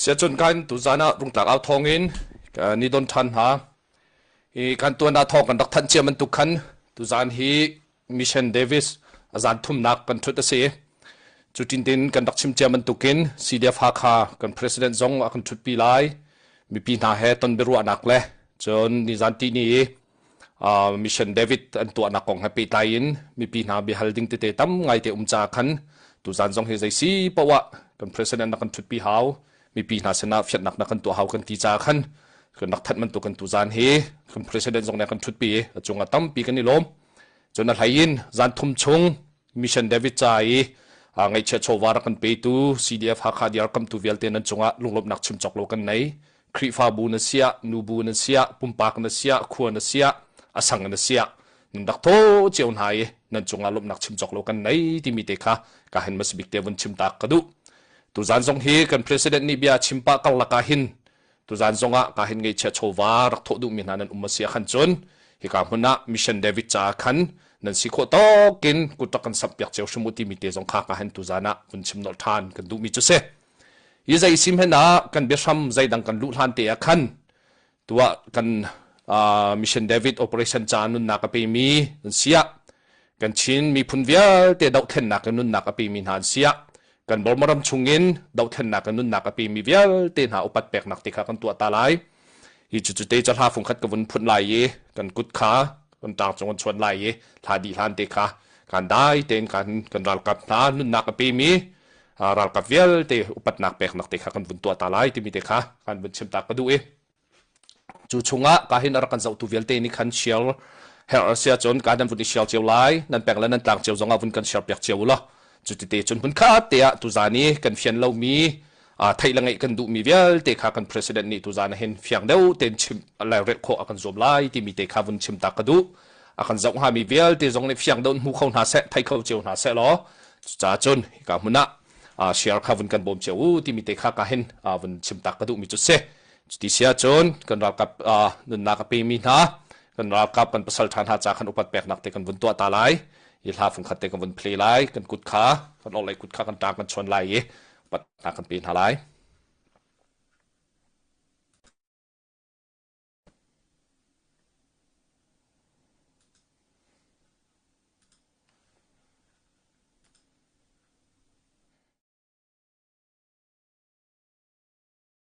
Siacun kan tuzan ah rungtlak au thawng in ni don ṭhan hna. Hi kan tuanah thawng kan rak thanh cia bantuk khan tuzan hi Mission Davis a zan thumnak kan ṭhut a si. Cu tintin kan rak chim cia bantukin CDF Hakha kan president zong a kan ṭhutpi lai. Mipi hna he ton biaruahnak le cun nizan tihni i mission David an tuahnak kong he pehtlai in mipi hna biahal ding tete tam ngaite um ca khan tuzan zong hi zeisi poah kan president na kan thutpi hau mipi hna sinah fiatnak na kan tuah hau kan ti ca khan kan nak that man tu kan tuzan hi kan president zong ne kan thutpi a cung a tampi kan i lom cun a hlai in zan thum chung Mission David ca i ngaihchia chawva rak kan petu CDF Hakha DR kamtu vialte nan cungah lunglawmhnak chim cawk lo kan nei. Khrihfabu na siah, nubu na siah, pumpak na siah, khua na siah, a sang na siah, nan rak tho cio hna i nan cungah lawmhnak chim cawk lo kan nei timi te kha ka hen masbik te vun chim tak ka duh. Tuzan zong hi kan president nih bia chim pah karlak ah hin Tuzan zongah ka hin ngeichia chawva rak thawh duhmi hna nan um a si ah khan cun hika hmun ah mission David caah khan nan si khawh tawkin kut rak kan sampiak cio hrim u timi te zong kha ka hen tuzan ah vun chim nolh ṭhan kan duhmi cu si hi zei sim hen ah kan biahram zeidang kan luh hlan te ah khan tuah kan mission David operation ca nunnak a pemi nan siah Kan Chin miphun vialte dohthlennak in nunnak a pemi hna an siah kan Burma ram chungin dohthlennak in nunnak a pemi vialte hna upat peknak ti kha kan tuah ta lai. Hi cu cu te ca hla fung khat ka vun phun lai i kan kut kha kan tang cung an chuan lai i hla dih hlan te kha kan dai tein kan kan ralkap hna nunnak a pemi ralkap vialte upatnak peknak te kha kan vun tuah ta lai timi te kha kan vun chim ta ka duh i Cu chungah ka hin rak kan zohtu vialte nih khan share herh a si ahcun ka nan vun i share cio lai nan pek le nan tlak cio zongah vun kan share piak cio ula cu tete cun hmun khat te ah tuzan i kan fian lomi theih le ngeih kan duhmi vialte kha kan president nih tuzan ah hin fiang deuh tein chim rel khawh a kan zuam lai timi te kha vun chim ta ka duh a kan zoh hngami vialte zong nih fiang deuh hmu kho hna seh thei kho cio hna seh law cucaah cun ka hmun ah share kha vun kan bawm cio u timi te kha ka hin vun chim ta ka duhmi cu si Cuti si ahcun kan ralkap uh, nunnak a pemi hna kan ralkap kan pasal ṭha hna ca kan upat peknak te kan vun tuah ta lai i hla fun khat te kan vun play lai kan kut kha kan orlei kut kha kan ṭa kan chuan lai i pat hna kan pe hna lai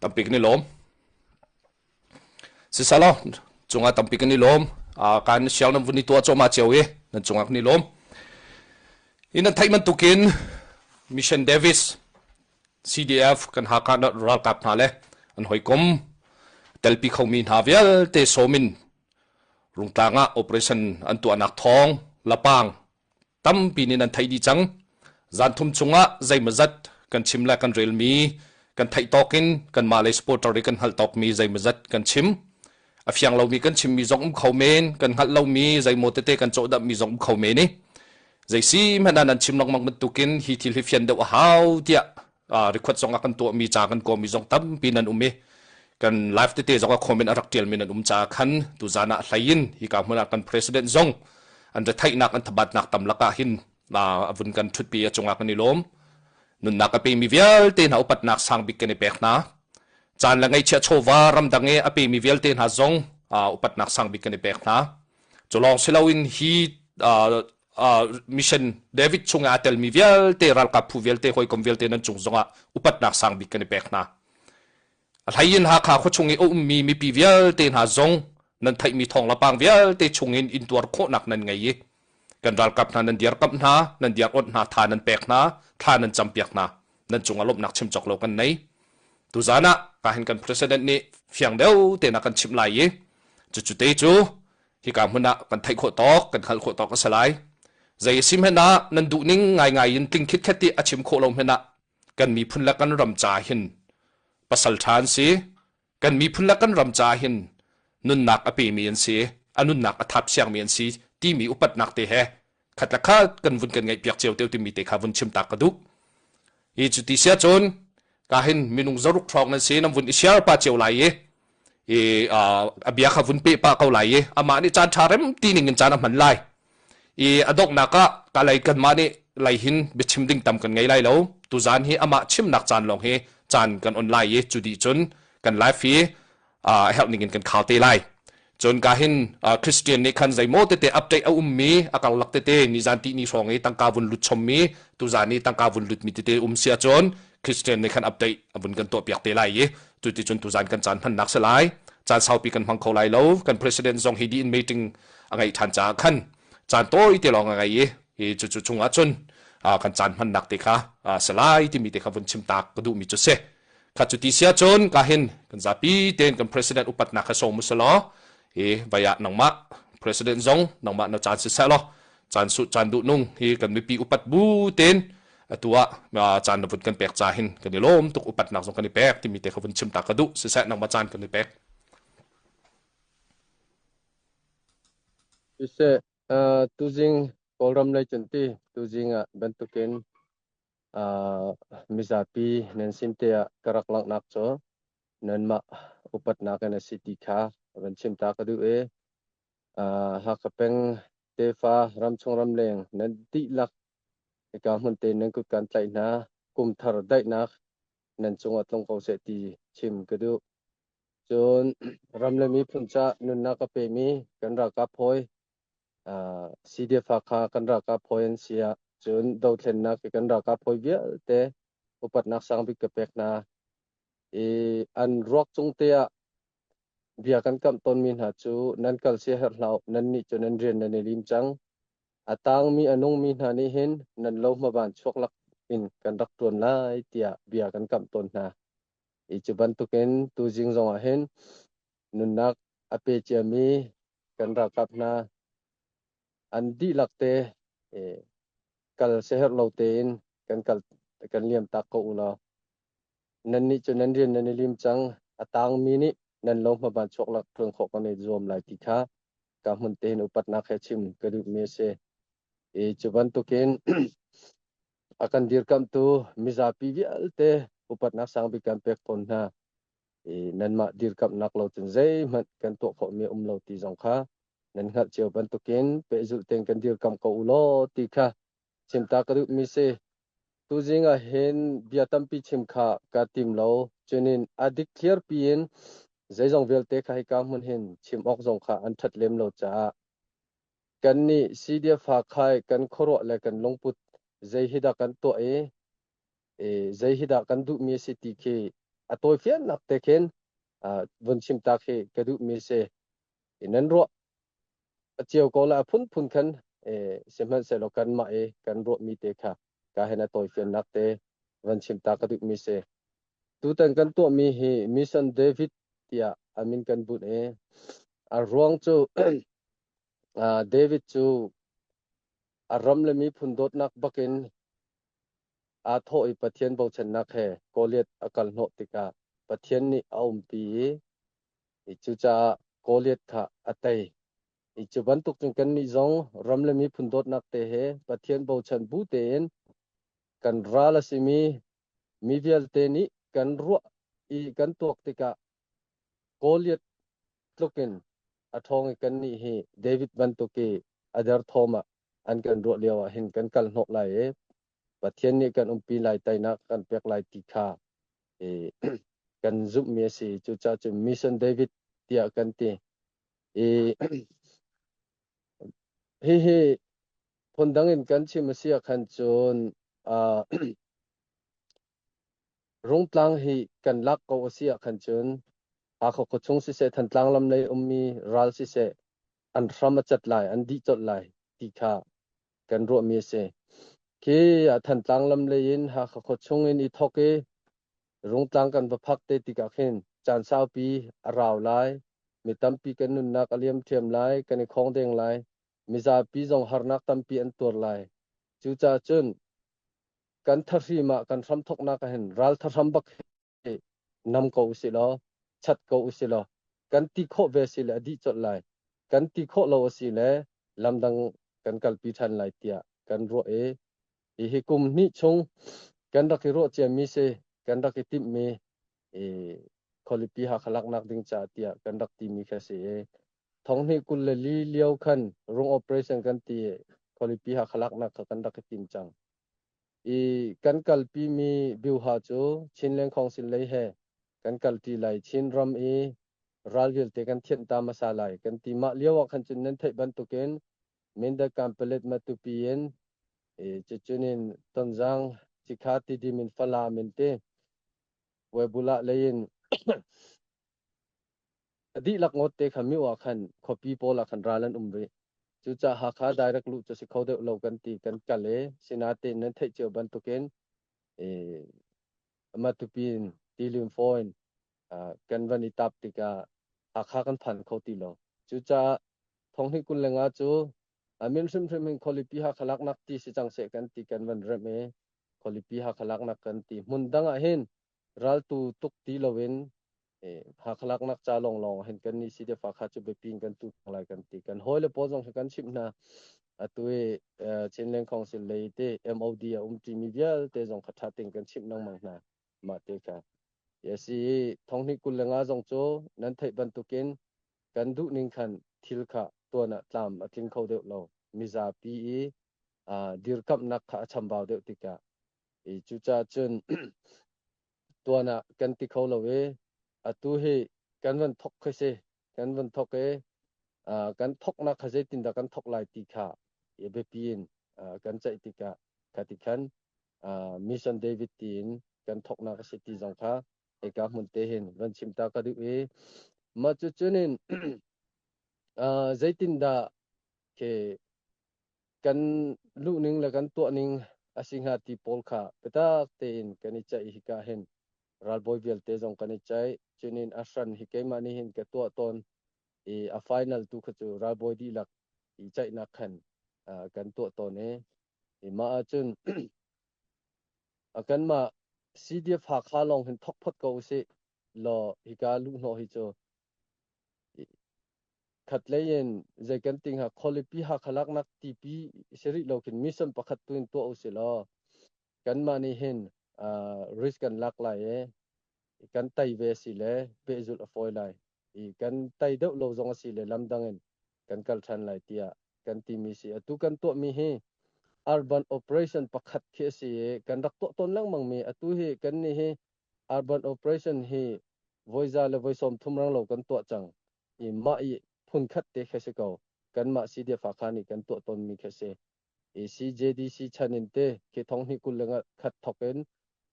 tampi kan i lawm sisalaw cungah tampi kan i lawm kan siang nan vun i tuah cawma cio i nan cungah kan i lawm in an theih man tukin mission davis cdf kan ha ka ralkap hna le an hoikom telpi khomi hna vialte somin rungtlang ah operation an tuahnak thong lapang tampi nih nan theih dih cang zan thum chungah zeimazat kan chim le kan relmi kan theih tawk in kan mah lei supporter i kan hngalh tawk mi zeimazat kan chim a fiang lomi kan chimmi zong um kho men kan hngalh lomi zeimaw tete kan cawhdamhmi zong um kho men i zei si hmanh ah nan chim lengmang bantukin hi thil hi fian deuh a hau tiah request zong a kan tuahmi ca kan kawmi zong tampi nan um i kan live tete zong a comment a rak tialmi nan um caah khan tu zan ah hlei in hi ka hmun ah kan president zong an retheihnak an thabatnak tam lakah hin a vun kan thutpi a cungah kan i lawm nunnak a pemi vialte hna upatnak sang bik kan i pek hna caan le ngaichia chawva ramdang e a pemi vialte hna zong upatnak sang bik kan i pek hna culong siloin hi mission David chung ah telmi vialte ralkap phu vialte hawikom vialte nan cung zongah upatnak sang bik kan i pek hna a hlayin Hakha khua chung i a ummi mipi vialte hna zong nan theihmi thong lapang vialte chungin intuar khawhnak nan ngei i kan ralkap hna nan diar kamh hna nan diar awnh hna tha nan pek hna thla nan campiak hna nan cungah lawmhnak chim cawk lo kan nei tuzan ah ka hin kan president nih fiang deuh te na kan chim lai i cu cu te cu hika hmun ah kan theih khawh tawk kan hngalh khawh tawk a si lai zei a si hmanh ah nan duh ning ngaingai in tling khitkhet i a chim khawh lo hmanh ah kan miphun le kan ram ca hin pasal ṭha an si kan miphun le kan ram ca hin nunnak a pemi an si a nunnak a thap siangmi an si timi upatnak te he khat la kha kan vun kan ngaihpiak cio te timi te kha vun chim tak ka duh hi cu ti sia chun ka hin minung zaruk thrawng nan si nam vun i share pa cheu lai i i abia kha vun pe pa ko lai i ama ni chan tha rem ti ning in chan a man lai i adok na ka ka lei kan ma ni lei hin bi chim ding tam kan ngai lai lo tu zan hi ama chim nak chan long hi chan kan online i chudi chun kan live hi uh, herh ning in kan khao te lai cun ka hin uh, christian nih khan zeimaw tete update a ummi a karlak tete ni zan ti ni hrawng i tangka vun lut chommi tu zan i tangka vun lut mi tete um sia cun christian nih khan update avun kan to piak te lai i tu ti cun tu zan kan chan hman nak se lai chan saupi kan hmang kho lai lo kan president zong hi di in meeting a ngai than cha khan chan to i te long a ngai i hi chu chu chungah chun kan chan hman nak te kha selai ti mi te kha vun chim tak ka du mi chu se khat cu ti sia cun ka hin kan zapi ten kan president upatnak kha sawm usa law i vaya nangmah president zong nangmah na chan si sa law chan su chan du nung hi kan mipi upat bu ten atu ah chan na vun kan pek cha hin kan i lom tuk upatnak zong kan i pek timi te kha vun chim ta ka du si sa nangmah chan kan i pek use tuzing kawlram lei chunti tuzing ah bantukin mizapi nan sin te ah ka rak langhnak cu nanmah upatnak in a si ti kha van chim ta ka duh i Hakha peng tefa ramchung ramleng nan dihlak hika hmun te nan kut kan tlaih hna kumthar daihnak nan cungah tlung ko seh ti chim ka duh cun ram le miphun ca nunnak a pemi kan ralkap hawi CDF Hakha kan ralkap hawi an si ah cun dothlennak i kan ralkap hawi vialte upatnak sang bik ka pek hna i an ruak cung te ah bia kan kamh tawnmi hna cu nan kal sia herh hlah uh nan nih cun nan rian nan i lim cang a tangmi a nungmi hna nih hin nan lo hmaban chuak lak in kan rak ṭuan lai tiah bia kan kamh tawn hna i cu bantukin tuzing zongah hin Nunnak a pe ciami kan ralkap hna an dihlak te kal siaherh lo tein kan kal kan liam taak ko unau. Nannih cu nan rian nan i lim cang. A taangmi nih nan lo hmaban chuaklak ṭuan khawh kan i zuam lai ti kha ka hmun tein upatnak he chim ka duhmi a si. I cu bantukin a kan dirkamhtu mizapi vialte upatnak sang bik kan pek tawn hna. i nanmah dirkamhnak lo cun zeihmanh kan tuah khawhmi um lo ti zong kha nan hngalh cio bantukin pehzulh tein kan dirkamh ko u law ti kha chimta ka duhmi si tu zing ah hin bia tampi chim kha ka tim lo cunin a dik thliarpi in zeizong vialte kha hika hmun hin chim awk zong kha an ṭhat lem lo caah kannih Sidia fa khai kan khuaruah le kan lungput zei hi dah kan tuah i zei hi dah kan duhmi a si ti khi a tawifiannak te khin vun chim ta khi ka duhmi si nan ruah a cio ko la a phunphun khan sihmanhsehlaw kanmah i kan ruahmi te kha ka hen a tawifiannak te van chim ta ka duhmi si tutan kan tuahmi hi mission david tiah amin kan bunh i a ruang cu david cu a ram le miphun dawtnak bakin Aa thawh i Pathian bochannak he Goliath a kalhnawh tikah Pathian nih a umpi i cucaah Goliath kha a tei. I cu bantuk cun kannih zong ram le miphun dawtnak te he Pathian bochan bu tein kan ral a simi mi vialte nih kan ruah i kan tuak tikah Goliath tluk in a ṭhawng i kannih hi David bantuk i a derthawm ah an kan ruah lio ah hin kan kal hnawh lai i Pathian nih kan umpi lai teinak kan pek lai ti kha i kan zumhmi a si cucaah cun mission David tiah kan ti i hihi phundang in kan chim a si khan cun uh, rungtlang hi kan lak ko a si khan cun hakha khuachung siseh thantlang lam lei ummi ral siseh an hram a cat lai, an dih colh lai ti kha kan ruahmi a si. Khi ah Thantlang lam lei in Hakha khuachung in i thawk i Rungtlang kan va phak te tikah khin caan saupi a rau lai. Mi tampi kan nunnak a liam ṭhiam lai, kan i khawng deng lai. Mizapi zong harnak tampi an tuar lai. Cucaah cun kan thahrim ah kan hram thawknak ahhin ralthahram bak nam ko usih law chat ko usih law kan ti khawh ve si le a dih colh lai kan ti khawh lo a si le lamdang kan kalpi ṭhan lai tiah kan ruah i hihi kum hnih chung kan rak i ruah ciami si kan rak i timhmi i khualipi hakha laknak ding ca tiah kan rak timi kha si i thonghni kul le li lio khan rung operation kan ti khualipi hakha laknak kha kan rak i tim cang I kan kalpimi Biuha cu Chin Lengkhawng sin lei he kan kalṭi lai. Chin ram i ral vialte kan thianh ta hmasa lai kan ti. Mah lio ah khan cun nan theih bantukin Mindat Kanpalet Matupi in cucun in Tonzang, Cikha, Tidim in Falam in ti Webulah lei in A dihlak ngawtte kha miu ah khan khuapi pawl ah khan ral an um rih. Cucaah Hakha direct luh cu si kho deuh lo kan ti kan kal i sinain nan theih cio bantukin i Matupi in Tilim fawn kan van i tap tikah Hakha kan phan kho ti lo. Cucaah Thonghni kul lengah cu a min hrimhrim hin khualipi Hakha laknak ti si cang seh kan ti kan van remh i khualipi Hakha laknak kan ti hmun dang ah hin Raltu tuk ti loin Hakha laknak ca lawnglawng hin kan ni CDF Hakha cu biapi in kan tu lai kan ti. Kan hawi le pawl zong hi kan chimh hna. Atu i Chin Land Council lei te MOD a um ṭimi vialte zong kha ṭha tein kan chimh lengmang hna. Mah te kha. A si i thonghnih kul le nga zong cu nan theih bantukin kan duh ning khan thil kha tuan ah tlam a tling kho deuh lo. Mizapi i dirkamhnak kha a chambau deuh tikah I cucaah cun tuan ah kan ti kho lo i atu hi kan van thok kha si kan van thok i kan thoknak kha zeitindah kan thok lai ti kha i biapi in kan ceih tikah kha ti khan mission david tiin kan thoknak a si ti zong kha eka hmun te hin van chim ta ka duh i mah cu cunin zeitindah ke kan luhning le kan tuahning a si hnga ti pawl kha biatak tein kan i ceih hika hin ralbawi vialte zong kan i ceih cunin a hran hi keimah nih hin ka tuah tawn i a final tu kha cu ralbawi dihlak i ceihnak khan kan tuah tawn i i mah ahcun a kanmah CDF Hakha lawng hin thok phot ko usih Law hika luhhnawh hi cu khatlei in zei kan ti hnga khualipi hakhalak nak tipi si rih lo kin mission pakhat tu in tuah usi law kanmah nih hin uh, risk kan lak lai e kan tai ve si le pehzul a foi lai i kan tai deuh lo zong si le lamdang in kan kal than lai tia kan ti mi si atu kan tuah mi hi urban operation pakhat khi si e kan rak tuah ton lengmang mi atu hi kan ni hi Arban operation hi voiza le voi sawmthum rang lo kan tuah cang i mah i phunkhat te khi a si ko. Kanmah CDF-Hakha nih kan tuah tawnmi khi a si. I CJDC chan in te khi thong hnih kul le nga khat thawk in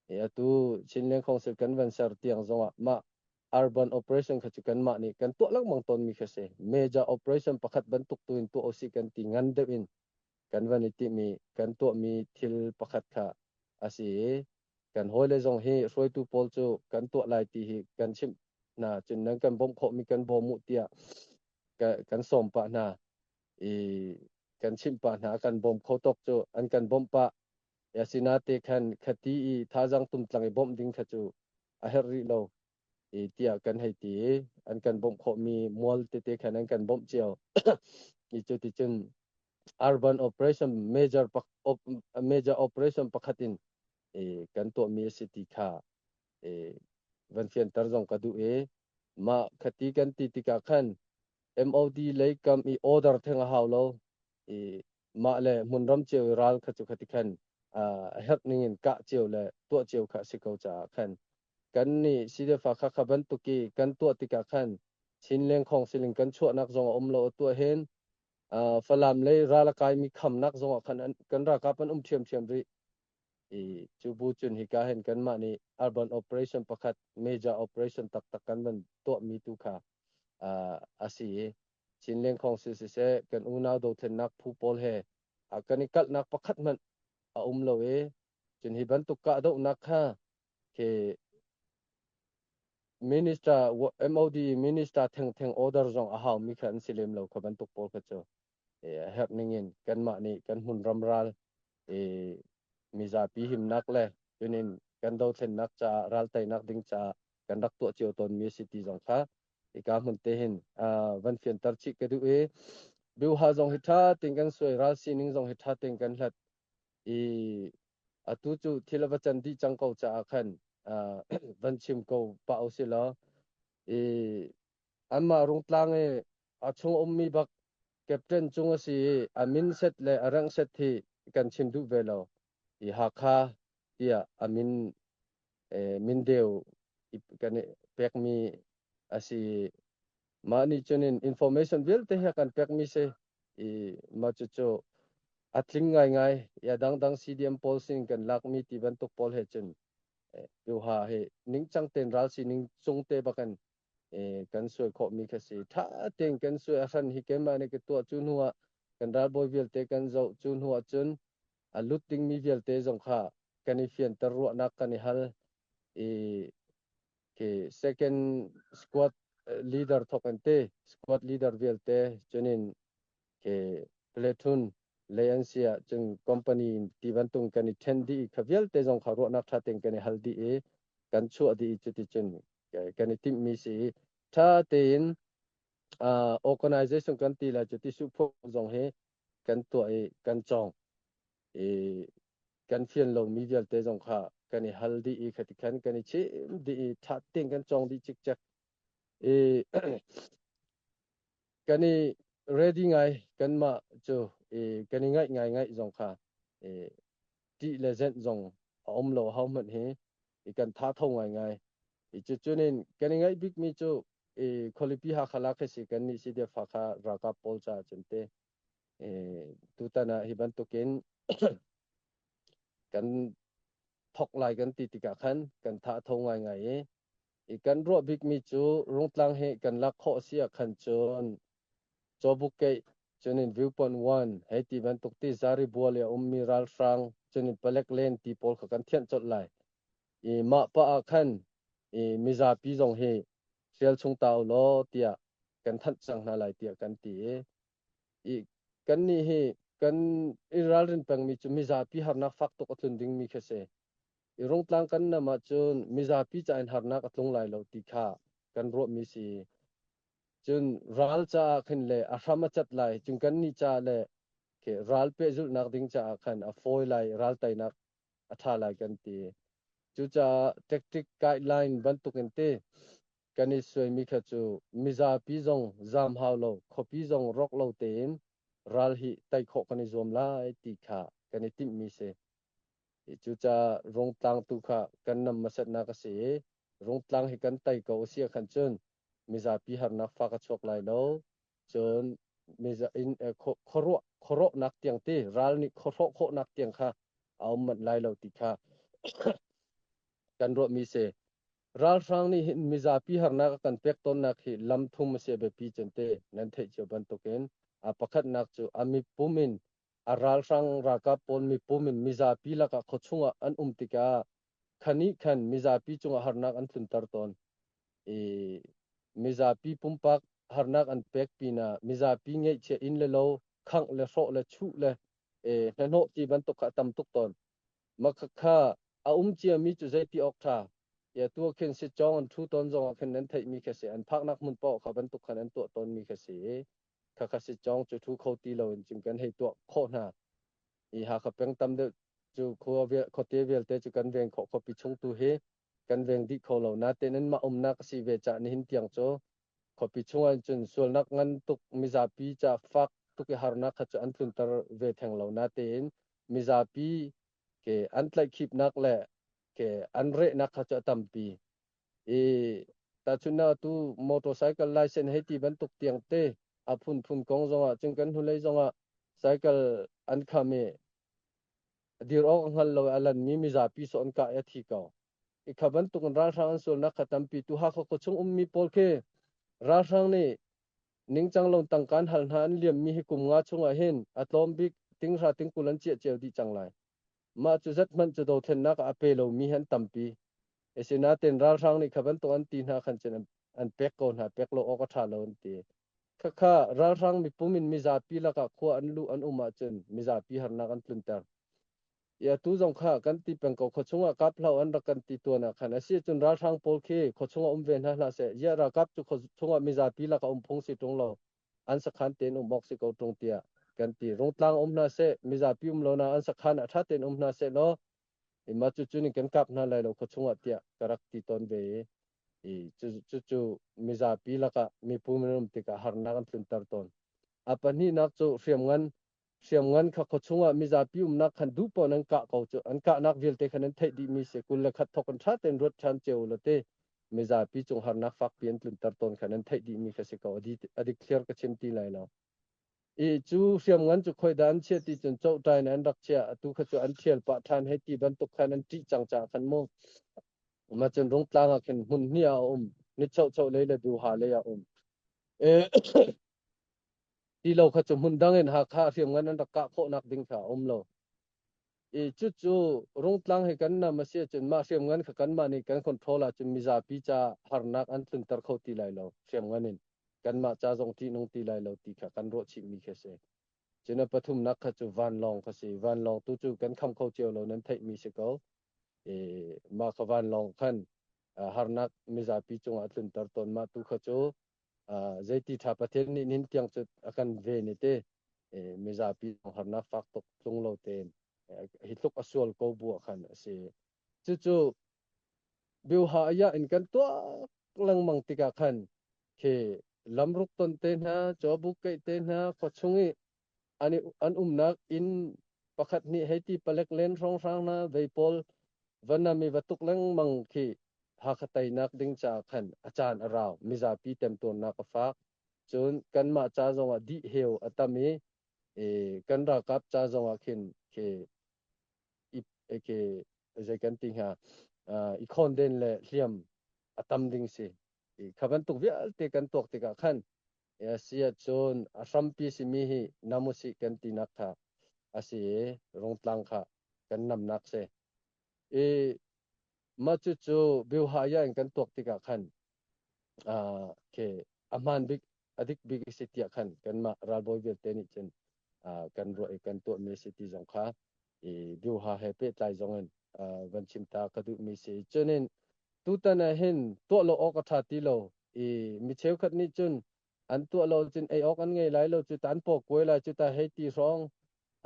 i atu Chinleng Council Convention ser tiang zongah mah Arban operation kha cu kanmah nih kan tuah lengmang tawnmi khi a si. Major operation pakhat bantuk tu in tuah usih kan ti ngan deuh in kan van i timi kan tuahmi thil pakhat kha a si i kan hawile zong hi hruaitu pawl cu kan tuah lai ti hi kan chimh hna cun nan kan bawmh khawhmi kan bawm u tiah kan sawm pah hna i kan chimh pah hna kan bawm kho tawk cu an kan bawmh pah asina te khan khati i thazang tumtlang i bawmh ding kha cu a herh rih lo i tiah kan hei ti i an kan bawmh khawhmi mual tete khan an kan bawmh cio i cuticun urban operation major major operation pakhat in kan tuahmi a si ti kha van fianter zong ka duh i mah khati kan ti tikah khan MOD lei kam i order theng a hau lo i mah le hmunram cio i ral kha cu khati khan a herh ning in kah cio le tuah cio kha a si ko caah khan kan nih sidefa kha kha bantuk i kan tuah tikah khan chin lengkhong silin kan chuahnak zong a um lo tuah hen falam le ral a kai mi khamnak zong ah khan kan rakap an um ṭhiamṭhiam rih i cu bu cun hika hen kanmah nih urban operation pakhat major operation taktak kan van tuah mi tu kha a si i Chin Lengkhawng si siseh, kan unau dothlennak phu pawl he a kan i kalhnak pakhat hmanh a um lo i cun hi bantuk kahdohnak kha khi minister MOD minister thengtheng order zong a haumi kha an si lem lo kha bantuk pawl kha cu e, a herh ning in kanmah nih kan hmun ramral e, mizapi himnak le tunin kan dothlennak caah raltainak ding caah kan rak tuah cio tawnmi a si ti zong kha hika hmun te hin van fianter chih ka duh i biuha zong hi ṭha tein kan suai ral sining zong hi ṭha tein kan hlat i atu cu thil a va can dih cang ko caah khan van chim ko pah u si law i anmah rungtlang i a chung ummi bak captain cung a si i a min set le a rang set hi kan chim duh ve lo i Hakha tiah a min mindeu kan pekmi a si mah nih cun in information vialte hi kan pekmi si i mah cucu a tling ngaingai ya dangdang CDM pawl sin kan lakmi ti bantuk pawl he cun piuha hi ningcang ten ral si ning cung te bakan kan suai khawh mi kha si tha ten kan suai ahran hi keimah ne ka tuah cu hnu ah kan ral bawi vialte kan zoh cu hnu ah cun a lut dingmi vialte zong kha kan i fianter ruahnak kan i hal i okay, second squad leader thokin te squad leader vialte cunin okay, platoon lei an si ah cun company ti bantung kan i ṭhen dih i kha vialte zong kha ruahnak ṭha tein kan i hal dih i kan chuah dih i cuti cun kan i timhmi si i ṭha tein uh, organization kan ti la cuti suhphung zong hi kan tuah i kan cawngh i kan fian lomi vialte zong kha kan i hal dih i khati khan kan i chim dih i ṭha tein kan cawng dih cikcek i kan i ready ngai kanmah cu i kan i ngaih ngaingaih zong kha i ṭih le zenh zong a um lo ho hmanh hi i kan tha tho ngaingai i cu cunin kan i ngaih bikmi cu i khualipi hakhala kha si kan nih si def kha ralkap pawl caah cun te e, tutan ah hi bantukin kan thok lai kan ti tikah khan kan tha tho ngaingai i i kan ruah bikmi cu rungtlang he kan lak khawh si ah khan cun Cawbukkeih, cun in Viewpoint One, hei ti bantuk ti zaribua lei a ummi ralhrang, cun in palek len ti pawl kha kan thianh colh lai. I mah pah ah khan i mizapi zong hi hrial chung ta u law tiah kan thanh cang hna lai tiah kan ti i i kannih hi kan i ralrin pengmi cu mizapi harnak fak tuk a tlun dingmi khi a si. I rungtlang kan nam ahcun mizapi ca in harnak a tlung lai lo ti kha kan ruahmi si. Cun ral caah khin le a hram a cat lai, cun kannih caah le ral pehzulhnak ding caah khan a fawi lai, ral teinak a ṭha lai kan ti. Cucaah tactic guideline bantukin ti kan i suaimi kha cu mizapi zong zam hau lo, khuapi zong rawk lo tein ral hi tei khawh kan i zuam lai ti kha kan i timhmi si. Cucaah rungtlang tu kha kan nam hmasatnak a si i rungtlang hi kan tei ko a si ahkhan cun mizapi harnak fa ka chuak lai lo. Cun khuaruah khuarawhnak tiang te ral nih khuahrawh khawhnak tiang kha a um manh lai lo ti kha kan ruahmi si. Ralhrang nih hin mizapi harnak a kan pek tawnnak hi lam thum a si biapi cente nan theih cio bantukin a pakhatnak cu a mipum in a ralhrang ralkap pawl mipum in mizapi lakah khuachung ah an um tikah khan nih khan mizapi cungah harnak an tlunter tawn i mizapi pumpak harnak an pek pinah mizapi ngeihchia inn le lo khangh le hrawh le chuh le e, hnahnawh ti bantuk kha a tam tuk tawn makhakha a um ciami cu zeiti awk ṭha ya tu khin si chong an thu ton zongah khin nan theihmi kha si an phaknak hmun paoh kha bantuk khan an tuah tawnmi kha si i khakha si chong cu thu kho ti loin cim kan hei tuah khawh hna i Hakha peng tam deuh cu khua vial, khuate vialte cu kan veng khawh khuapi chung tu hi kan veng dih kho lo. Natein an mah umnak a si ve caah nihin tiang cu khuapi chungah in cun sualnak ngan tuk mizapi ca fak tuk i harnak kha cu an tlunter ve theng lo. Natein mizapi ke an tlaihkhipnak le ke an rehnak kha cu a tampi. I tahchunh ah tu motorcycle license hei ti bantuk tiang te a phunphun kong zongah cun kan hnulei zongah cycle an kham i dir awk a hngal lo i a lanmi mizapi so an kah i a thi ko. I kha bantuk in ralhrang an sualnak kha tampi tu Hakha khuachung ummi pawl khi ralhrang nih ningcang lo tangkan hal hna an liammi hi kum nga chungah hin a tlawm bik tinghra tingkul an ciah cio dih cang lai. Mah cu zethmanh cu dothlennak ah a pe lomi hi an tampi. Asinain ralhrang nih kha bantuk an ti hna khan cun an pek ko hna, pek lo awk a ṭha lo an ti. Khakha ralhrang mipum in mizapi lakah khua an luh an um ahcun mizapi harnak an tlunter. I atu zong kha kan ti peng ko khuachung ah kap hlah an rak kan ti tuan ah khan a si cun ralhrang pawl khi khuachung ah um ve hna hlah seh. Ziah ralkap cu khuachung ah mizapi lakah um phung si ṭung lo. an sakhan tein um awk si ko ṭung tiah kan ti. Rungtlang um hna seh, mizapi um lo na an sakhan a ṭha tein um hna seh law, ima cu cu nin kan kap hna lai lo kho chungah tiah ka rak ti tawn ve i, i cu cu cu mizapi lakah mipu minung tikah harnak an tlunter tawn. A pahnihnak cu hriamngan hriamngan kha khuachung ah mizapi umnak khan duh paoh nan kah ko cu an kahnak vialte khan an theih dihmi si kul le khat thawk in ṭha tein ruat ṭhan cio ulaw te mizapi cung harnak fakpi an tlunter tawn khan an theih dihmi kha si ko a dikthliar ka chim ti lai lo i cu hriamngan cu khoida an chia ti cun chawhtai in an rak chia atu kha cu an ṭhial pah ṭhan hei ti bantuk khan an ṭih cang ca khan mu ma cun rung tlang ah khin hmun hnih a um ni chauh chauh lei le du ha lei a um Ti lo kha cu hmun dang in Hakha hriamngan an rak kah khawhnak ding kha a um lo. I cucu Rungtlang hi kan nam a si ahcun mah hriamngan kha kanmah nih kan control ahcun mizapi ca harnak an tlunter kho ti lai lo. Hriamngan in kanmah ca zong ṭihnung ti lai lo ti kha kan ruah chihmi khi a si. Cun a pathumnak kha cu vanlawng kha si. Vanlawng tu cu kan kham kho cio lo, nan theihmi si ko. I mah kha vanlawng khan harnak mizapi cungah a tlunter tawn. Mah tu kha cu zeiti tha pathian nih nin tiang cu a kan ve ni te mizapi harnak fak tuk tlung lo tein hi tluk a sual ko bu khan a si cucu biuha aya in kan tuak lengmang tikah khan khi lamruk ton te hna chawbuk keih te hna khawchung i An umnak inn pakhat nih hei ti palek len hrawnghrang hna vei pawl va nam i va tuk lengmang khi Hakha teinak ding caah khan a caan a rau mizapi temtuarnak a faak. Cun kanmah ca zongah dihheu a tam i kan ralkap ca zongah khin ke ke zei kan ti hnga i khawnden le hliam a tam ding si. Kha bantuk vialte kan tuak tikah khan a si ahcun a hrampi simi hi nam usih kan tinak kha a si i rungtlang kha kan namnak si. I mah cucu biuhaya in kan tuak tikah khan a ke a hmaan bik a dik bik a si tiah khan kanmah ralbawi vialte nih cun kan ruah i kan tuahmi a si ti zong kha i Bioha he pehtlai zong in van chim ta ka duhmi si. Cunin tutan ah hin tuah lo awk a ṭha ti lo i mi cheukhat nih cun an tuah lo cun ei awk an ngei lai lo cu tan po kuai lai cu ta hei ti hrawng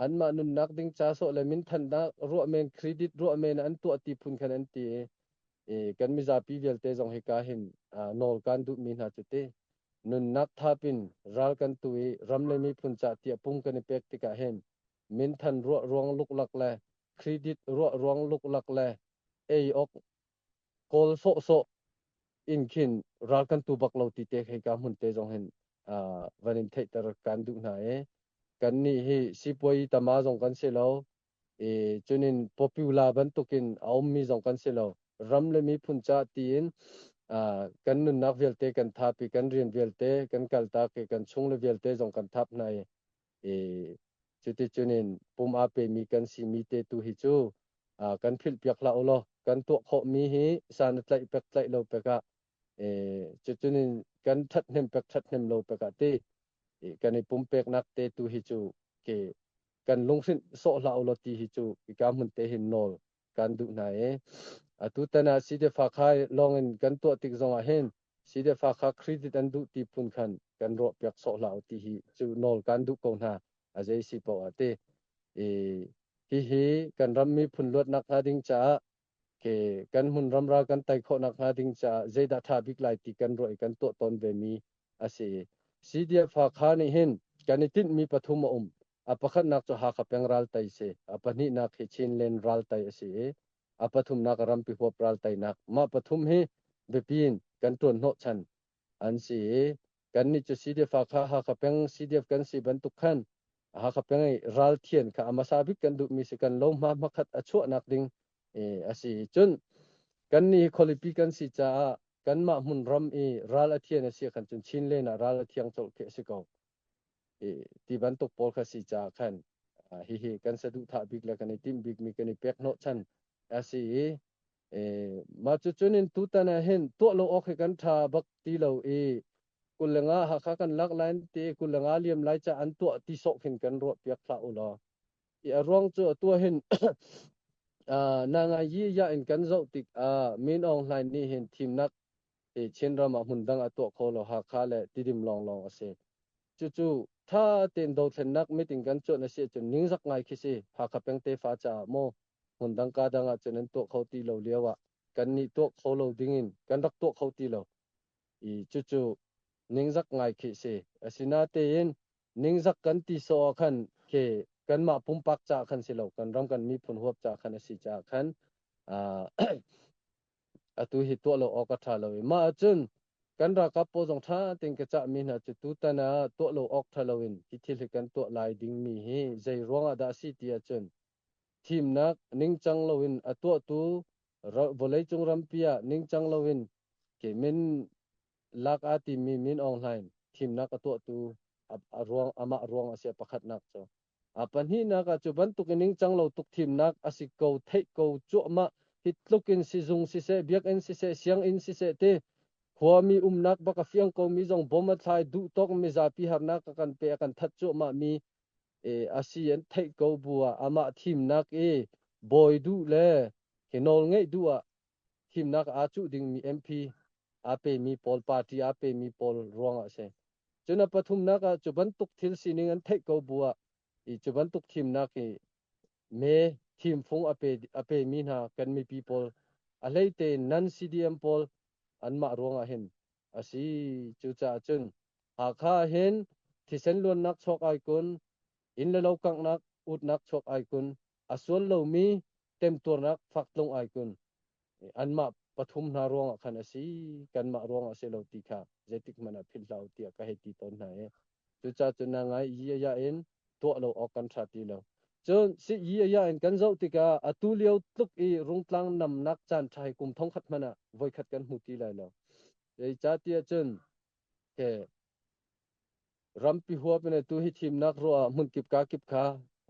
anmah nunnak ding ca sawh le min thannak ruah men credit ruah men an tuah ti phun khan an ti i kan mizapi vialte zong hika hin nawl kan duhmi hna cu ti Nunnak tha pin ral kan tu i ram le miphun cah tiah pung kan i pek tikah hin minthan ruah ruang luklak le credit ruah ruang luklak le ei awk kawl sawhsawh in khin ral kan tu bak lo ti te khei ka hmun te zong hin uh, van in theihter kan duh hna i kan nih hi sipuai tama zong kan si lo I cunin popular bantukin a ummi zong kan si lo. Ram le miphun cah tiin uh, kan nunnak vialte kan thap i kan rian vialte kan kaltak i kan chung le vialte zong kan thap hna i i cuti cunin pum a pemi kan simi te tu hi cu uh, kan philhpiak hlah ulaw kan tuah khawhmi hi san tlaih pek tlaih lo pek ah cucun in kan thathnem pek thathnem lo pek ah ti kan i pumpeknak te tu hi cu ke kan lunghrinh sawh hlah ulaw ti hi cu i ka hmun te hin nawl kan duh hna i atu tan ah sidefa kha lawng in kan tuah tik zong ah hin sidefa kha credit an duh ti phun khan kan ruah piak sawh hlah ti hi cu nawl kan duh ko hna a zei si po a ti i hihi kan rammi phun luatnak hnga ding caah kan hmun ramra kan tai khawh nak hnga ding caah zeidah tha bik lai ti kan ruah i kan tuah tawn ve mi a si. CDF Hakha nih hin kan i tinh mi pathum a um. A pakhatnak cu Hakha peng ral tai si. A pahnihnak hi Chinland ral tai a si i a pathumnak a rampi huap ral tai nak. Mah pathum hi biapin kan tuan hnawh chan an si i kannih cu CDF-a kha Hakha peng CDF kan si bantuk khan Hakha peng i ralthian kha a hmasa bik kan duhmi si kan lohma hmakhat a chuahnak ding a si cun kannih hi khualipi kan si caah kanmah hmun ram i ral a thian a si khan cun Chin len ah ral a thiang colh khi a si ko ti bantuk pawl kha si caah khan hihi kan saduhthah bik le kan i timh bikmi kan i pek hnawh chan a si i Mah cucun in tutan ah hin tuah lo awk hi kan ṭha bak ti lo i kulleng ah Hakha kan lak lai an ti i kulleng ah liam lai caah an tuah ti sawh khin kan ruahpiak hlah u law i a ruang cu atu ah hin Nangayi ya in kan zoh tik ah Min Aung Hlain nih hin thimnak i Chinram ah hmun dang a tuah kho lo Hakha le Tidim lawnglawng a si. Cucu ṭha tein dothlennak meeting kan cuanh a si ahcun ningzak ngai khi si Hakha peng tefa caah maw Hmundangka dang ahcun an tuah kho ti lo lio ah kannih tuah kho lo dingin kan rak tuah kho ti lo i cucu ningzak ngai khi a si. Asinatein ningzak kan ti sawh ah khan ke kanmah pumpak caah khan si lo kan ram kan miphun huap caah khan a si caah khan atu hi tuah lo awk a ṭha lo i mah ahcun kan ralkap pawl zong ṭha tein ka cah mi hna cu tutan ah tuah lo awk ṭha lo in hi thil hi kan tuah lai dingmi hi zei ruangah dah a si ti ahcun Thimnak ningcang loin a tuahtu vawleicung rampi ah ningcang loin kemin lak aa timmi Min Aung Hlaing thimnak a tuahtu amah ruang a si a pakhatnak cu. A pahnihnak ah cu bantuk in ningcang lo tuk thimnak a si ko, theih ko cuahmah, hi tluk in sizung siseh, biakinn siseh, sianginn siseh ti khuami umnak bak a fiang komi zong bom a thlai, duhtawk mizapi harnak a kan pe, a kan that cuahmahmi a si an theih ko bu ah amah thimnak i bawi duh le hi nawlngeih duh ah thimnak aa cuh dingmi MP aa pemi pawl party aa pemi pawl ruangah a si. Cun a pathumnak ah cu bantuk thil sining an theih ko bu ah i cu bantuk thimnak hi me thimfung a pe a pemi hna kan mipi pawl a hleite nan CDM pawl anmah ruangah hin a si. Cucaah cun Hakha ahhin thisen luannak chuak ai kun, inn le lo kanghnak utnak chuak ai kun, a sual lomi temtuarnak faktlung ai kun, anmah pathum hna ruangah khan a si, kanmah ruangah a si lo ti kha zeitik hmanh ah philhhlah u tiah ka hei ti tawn hna i cucaah cun na ngaih i a ya in tuah lo awk kan ṭha ti lo. Cun sii aya in kan zoh tikah atu lio tluk i rungtlang namnak caanṭha hi kum thongkhat hmanh ah voikhat kan hmu ti lai lo. Zeicahtiah cun ke rampi huap in tu hi thimnak ruah ah hmun kip ka kip kha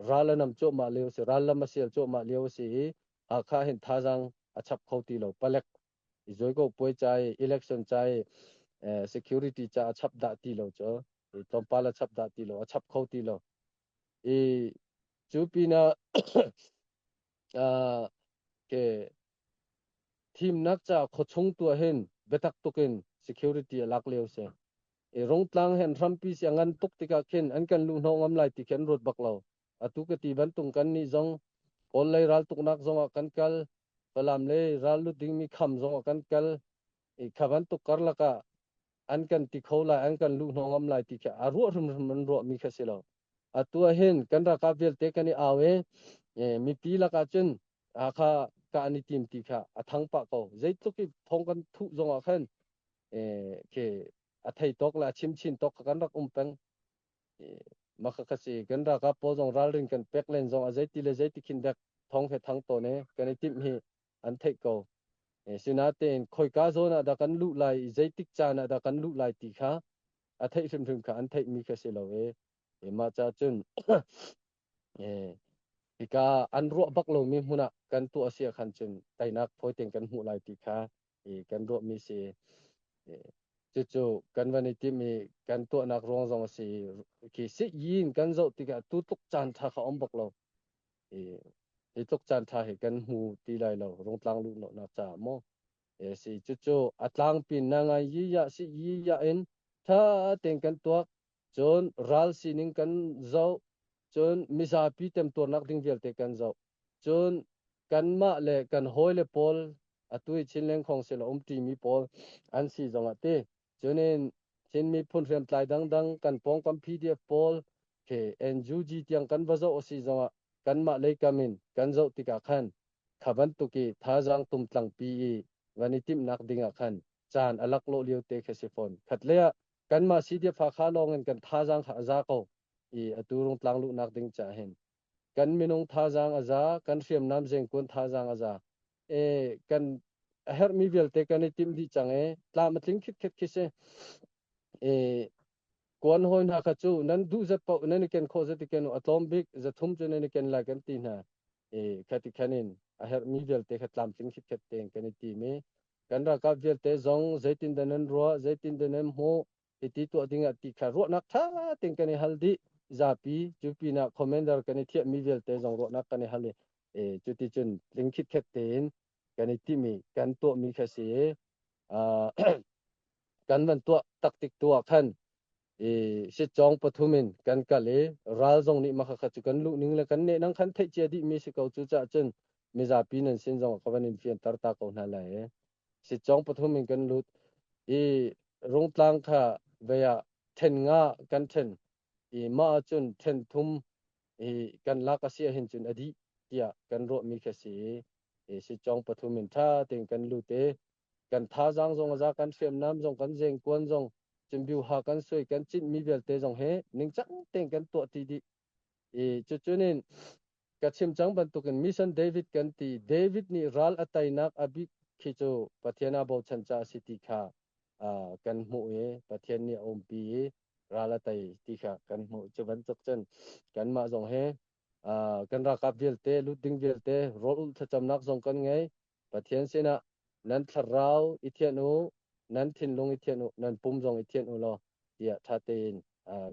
ral a nam cuahmah lio a si ral lam a sial cuahmah lio a si i akha hin thazang a chap kho ti lo palek i zawigaw puai ca i election ca i eh, security ca a chap dah ti lo cu i tlawmpal a chap dah ti lo a chap kho ti lo i cu pinah uh, ke thimnak ca khochung tua hin betak tukin security a lak leo se i rongtlang hen hrampi si ngan tuk tikah khin an kan lu no ngam lai ti khin ruat bak lo Atu ka ti bantuk kannih zong Kawl lei raltuknak zongah kan kal, Falam le rallut dingmi kham zongah kan kal i kha bantuk karlak ah an kan ti kho lai, an kan luh hnawng ngam lai ti kha a ruah hrimhrim an ruahmi kha si lo. Atu ah hin kan ralkap vialte kan i au i mipi lakah cun Hakha ka an i tim ti kha a thang pah ko. Zeitluk i thong kan thuh zongah khan ke a thei tok le a chim chin tok kha kan rak um peng. maka kasi kan raka po zong ralrin kan pek len zong a zeiti le zeiti khin dek thong he thang to ne kan i tim hi an theih ko sinatein khoika zona da kan lu lai i zeitik cana da kan lu lai ti kha a theih hrimhrim kha an theih mi kha si lo e ma cha cun hika an ruah bak lo mi hmuna kan tu asia khan cun tainak phoi ten kan hmuh lai ti kha i kan ruahmi si cucu kan van i tim i kan tuahnak ruang zong a si khi sik yin kan zoh tikah tu tluk caan tha kha om bak lo i hi tluk caan tha hi kan hmu ti lai lo rungtlang lu no nak ca mo e si cucu a tlang pin na ngai yi ya si yi ya in tha ten kan tuak Cun ral sining kan zoh, cun mizapi temtuarnak ding vialte kan zoh. Cun kanmah le kan hawile pawl atu i Chin lengkhong sin a umṭimi pawl an si zong a ti. Cunin Chin miphun hriamtlai dangdang kan pawngkampi DF pawl he NUG tiang kan va zoh a si zongah kanmah lei kam in kan zoh tikah khan kha bantuk i thazaang tumtlangpi i van i timhnak dingah khan caan a laklawh lio te khi a si fawn. Khat lei ah Kanmah Sihdiafakha lawngin kan thazaang kha a za ko i atu rungtlang luhnak ding caah hin kan minung thazaang a za, kan hriamnam zengkuan thazaang a za. E, kan a herhmi vialte kan i timh dih cang e, tlam a tling khitkhet khi si. E, kuan hoi hna kha cu nan duh zat paoh nan i ken khawh zati ken u, a tlawm bik zathum cu nan i ken la kan ti hna. E, khati khanin a herhmi vialte kha tlam tling khitkhet tein kan i tim i kan ralkap vialte zong zeitindah nan ruah zeitindah nan hmuh hiti tuah dingah ti kha ruahnak ṭha tein kan i hal dih zapi cu pinah commander kan i thiahmi vialte zong ruahnak kan i hal i e, cuti cun tlingkhit khek tein kan i timi kan tuahmi kha si i uh, kan van tuah taktik tu ah khan i sitcong pathum in kan kal i ral zong nih makha cu kan luh ning le kan neh nang khan theih cia dih mi si ko cu caah cun mizapi nan sin zong ka van in fianter ta ko hna lai e sitcong pathum in kan lut i rungtlang kha vea then nga kan then i ma cun then thum i kan lak a sia hin cun a dih tiah kan ruah mi kha si i sitcong pathum in tha tein kan lut e kan thazaang zong a za, kan hriamnam zong, kan zengkuan zong, cimbiuha kan suai, kan cinhmi vialte zong hi ningcang tein kan tuahti dih. I cucu nin ka chim cang bantukin mission David kan ti. David nih ral a tainak a bit khi cu Pathian a bochan ca a si ti kha kan hmuh i Pathian nih a umpi i ral a tai ti kha kan hmuh. Cu bantuk cun kanmah zong hi kan ralkap vialte, lut ding vialte rawl ulh thlacamnak zong kan ngei. Pathian sinah nan thlarau i thianh u, nan thinlung i thianh u, nan pum zong i thianh u law tiah ṭha tein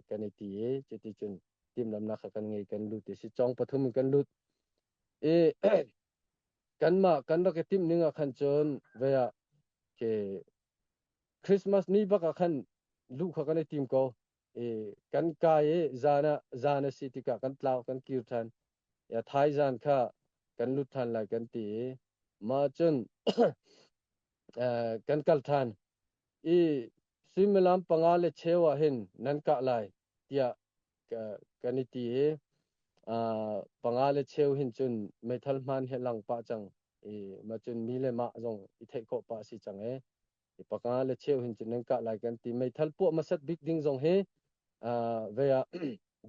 kan i ti i cuticun timhlamhnak kha kan ngei kan lut i si cong pathum in kan lut i kanmah kan rak i timh ning ah khan cun vei ah ke Christmas ni bak ah khan luh kha kan i tim ko kan kai i zan ah zan a si tikah kan tlau kan kir ṭhan ya thai zan kha kan lut ṭhan lai kan ti i mah cun kan kal ṭhan i suimilam panga le cheu ah hin nan kah lai tiah kan i ti i panga le cheu hin cun meithal hmaan he lang pah cang i mah cun mi le mah zong i theih khawh pah a si cang e Mipa le cheu hin cun nan kah lai kan ti meithal puah masat bik ding zong hi ve ah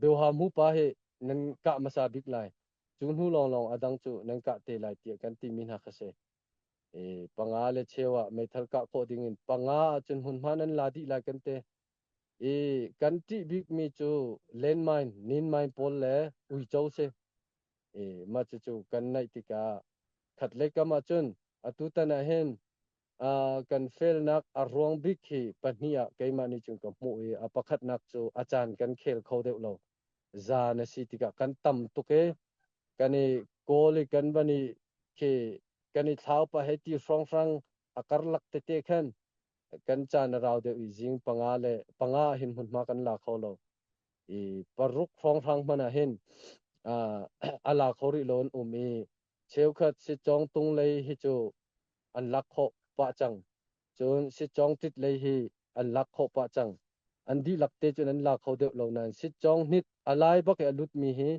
beuha mu pa hi nan kah masa bik lai cu hnu lawng lawng a dang cu nan kah te lai tiah kan ti mi hna kha si e panga le cheu ah meithal kah khawh ding in panga ah cun hmun hma nan la dih lai kan te e kan ṭih bik mi cu landmine ninmine pawl le uico si e ma cu cu kan naih tikah khat le kam ah cun atu tan ah hin Uh, kan felnak a ruang bik hi pahnih ah keimah nih cun ka hmuh i a pakhatnak cu a caan kan khel kho deuh lo zaan a si tikah kan tam tuk i kan i kawl i kan van i khi kan i thlau pa he ti hrawnghrang a karlak tete khan kan caan a rau deuh i zing panga le panga hin hmunhma kan la kho lo i paruk hrawnghrang hmana hin uh, a la kho rih loin um i Cheukhat sitcawng tung lei hi cu an lak khawh pah cang. Cun sitcawng tit lei hi an lak khawh pah cang. An dihlak te cun an la kho deuh lo nain sitcawng hnit a lai bak i a lutmi hi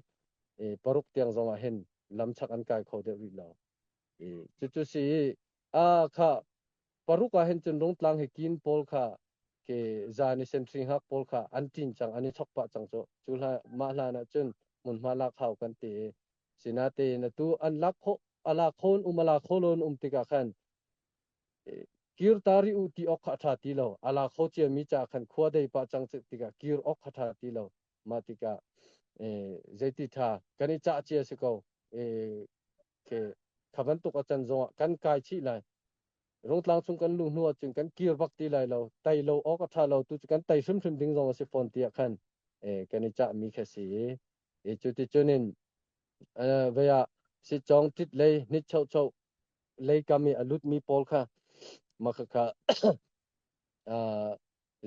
paruk tiang zongah hin lamchak an kai kho deuh rih lo. Cucu si i a kha paruk ah hin cun rungtlang hi kin pawl kha ke zan i sentring hak pawl kha an ṭin cang, an i chok pah cang cu. Cu hlan, mah hlan ah cun hmunhma lak hau kan ti i Sinatein atu an lak kho ala khon um ala kholon um tikah khan kir tari u ti ok kha tha ti lo ala kho cia mi cha khan khua dei pa chang che tikah kir ok kha tha ti lo ma tikah zeiti tha kan i cha cia si ko ke khaban tuk a chan zong kan kai chi lai rotlang chung kan lu hnuah cun kan kir bak ti lai lo tai lo ok a tha lo tu cu kan tai hrim hrim ding zong a si fawn tiah khan kan i cha mi kha si I cuticun in vei ah sitcawng tit lei nitchochoh lei kam i a lutmi pawl kha makhakha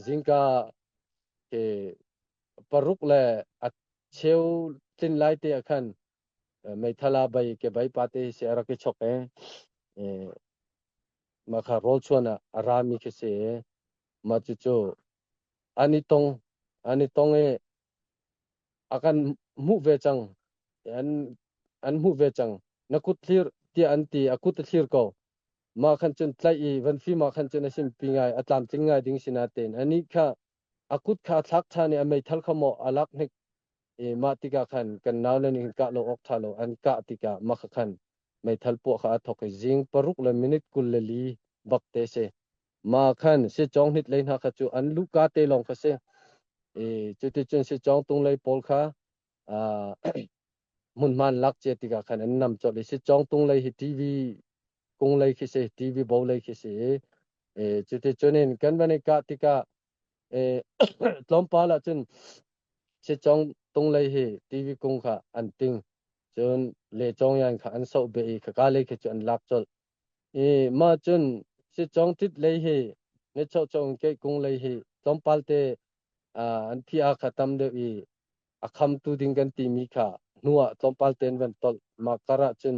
zingka ke paruk le a cheu tlin lai te ah khan meithala bai ke bai pa te si a rak i chok e makha rol chuan a rami khi si ma cucu ani tong ani tong e a kan hmuh ve cang an hmuh ve cang na kut hlir tiah an ti a kut a thlir ko mah khan cun tlaih i van fim ah khan cun a simpi ngai a tlamtling ngai ding si na tein anih kha a kut kha a thlak ṭhan i a meithal kha maw a lak hnik i mah tikah khan kan nau le nih kah lo awk ṭha lo an kah tikah mah kha khan meithal puah kha a thawk i zing paruk le minute kul le li bak te si ma khan secong nit lei hna kha cu an luka te lawng kha si i cuticun secong tung lei pawl kha hmunhman lak cia tikah khan an nam cawlh i secong tung lei hi tv kung lei khi si tv bo lei khi si i cuticun in kan van i kah tikah tlawmpal ah cun secong tung lei hi tv kung kha an ting cun le cong yan kha an soh beh i khaka lei khi cu an lak cawlh I mah cun sicawngtit lei hi ne chohchoh in keihkung lei hi tlawmpal te an thiah kha tam deuh i a khamtu ding kan timi kha hnu ah tlawmpal tein van tolh. Mah kar ahcun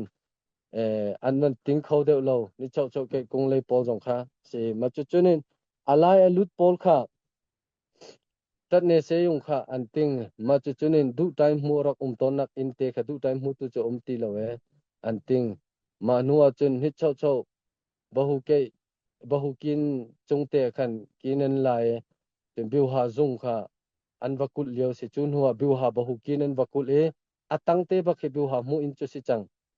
an van ting kho deuh lo ni chohchoh keihkung lei pawl zong kha. Si. Mah cucu nih a lai a lut pawl kha Ṭat ne seyung kha an ting, mah cucun in duh ṭaihmu rak um tawnnak innte kha duh ṭaihmu tu cu a um ti lo ee, an ting. Mah hnuah cun hitchocho bahukin cungte khan kin an la i cun biuha zung kha an va kulh lio a si. Cu hnuah biuha bahukin an va kulh i a tangte bak hi biuha hmuh in cu a si cang.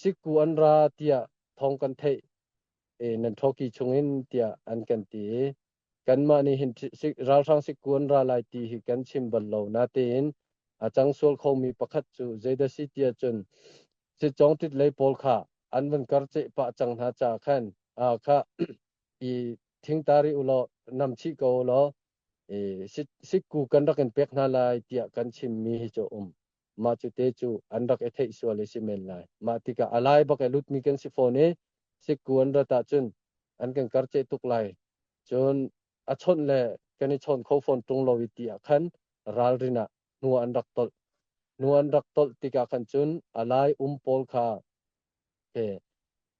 Sikku an ra tiah thawng kan theih i nan ṭhawki chungin tiah an kan ti i kanmah nih hin ralhrang sikku an ra lai ti hi kan chim bal lo natein a cang sual khomi pakhat cu zeidah si tiah cun citcawngṭit lei pawl kha an van kar ceh pah cang hna caah khan kha i thingta ri u law nam chih ko u law sikku kan rak in pek hna lai tiah kan chimmi hi cu a um. mah cu te cu an rak i theih sual i si men lai mah tikah a lai bak i lutmi kan si fawn i sikku an rat ahcun an kan karceh tuk lai cun a chawnh le kan i chawn kho fawn ṭung lo i ti ah khan ralrin ah hnu an rak tolh hnu an rak tolh tikah khan cun a lai um pawl kha ke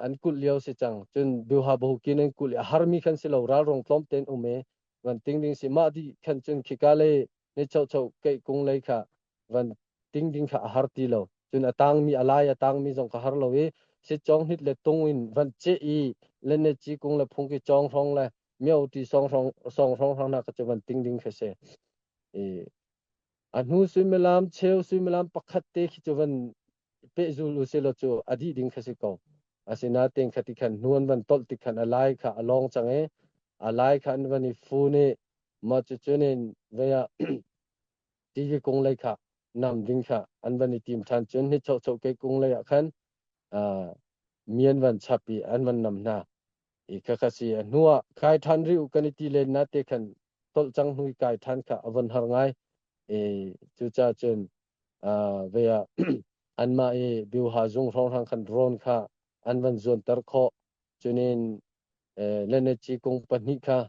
an kulh lio si cang. Cun Biohabahu ki nan kulh i a harmi khan si lo, ralrung tlawmte in um i van ting ding si. Mah dih khan cun khika le ni chocho keih kung lei kha van ting ding kha a har ti lo. Cun a tangmi, a lai a tangmi zong ka har lo i sitcong hit le tung in van ceh i le ne ci kung le phung ki cong hrong le mio ti song hrong song hrong hrong na ka cu van ting ding kha se. I a hnu suimilam cheu suimilam pakhat te khi cu van pehzul u silaw cu a dih ding kha si ko asinain kha ti khan hnuan van tolh ti khan a lai kha a lawng cang i a lai khan van i fu nih mah cucu nin veya ti kung lei kha nam ding kha an van i tim ṭhan cun hi chocho ke kung lei ah khan mian van chap i an van nam hna i kha kha si a hnu ah khai ṭhan ri u kan i ti len na te khan tolh cang hnui kai ṭhan kha a von har ngai e cuca cun ve ah anmah i biuha zung hrawnghrang khan drone kha an van zuanter khawh. Cunin Lenechi kung pahnih kha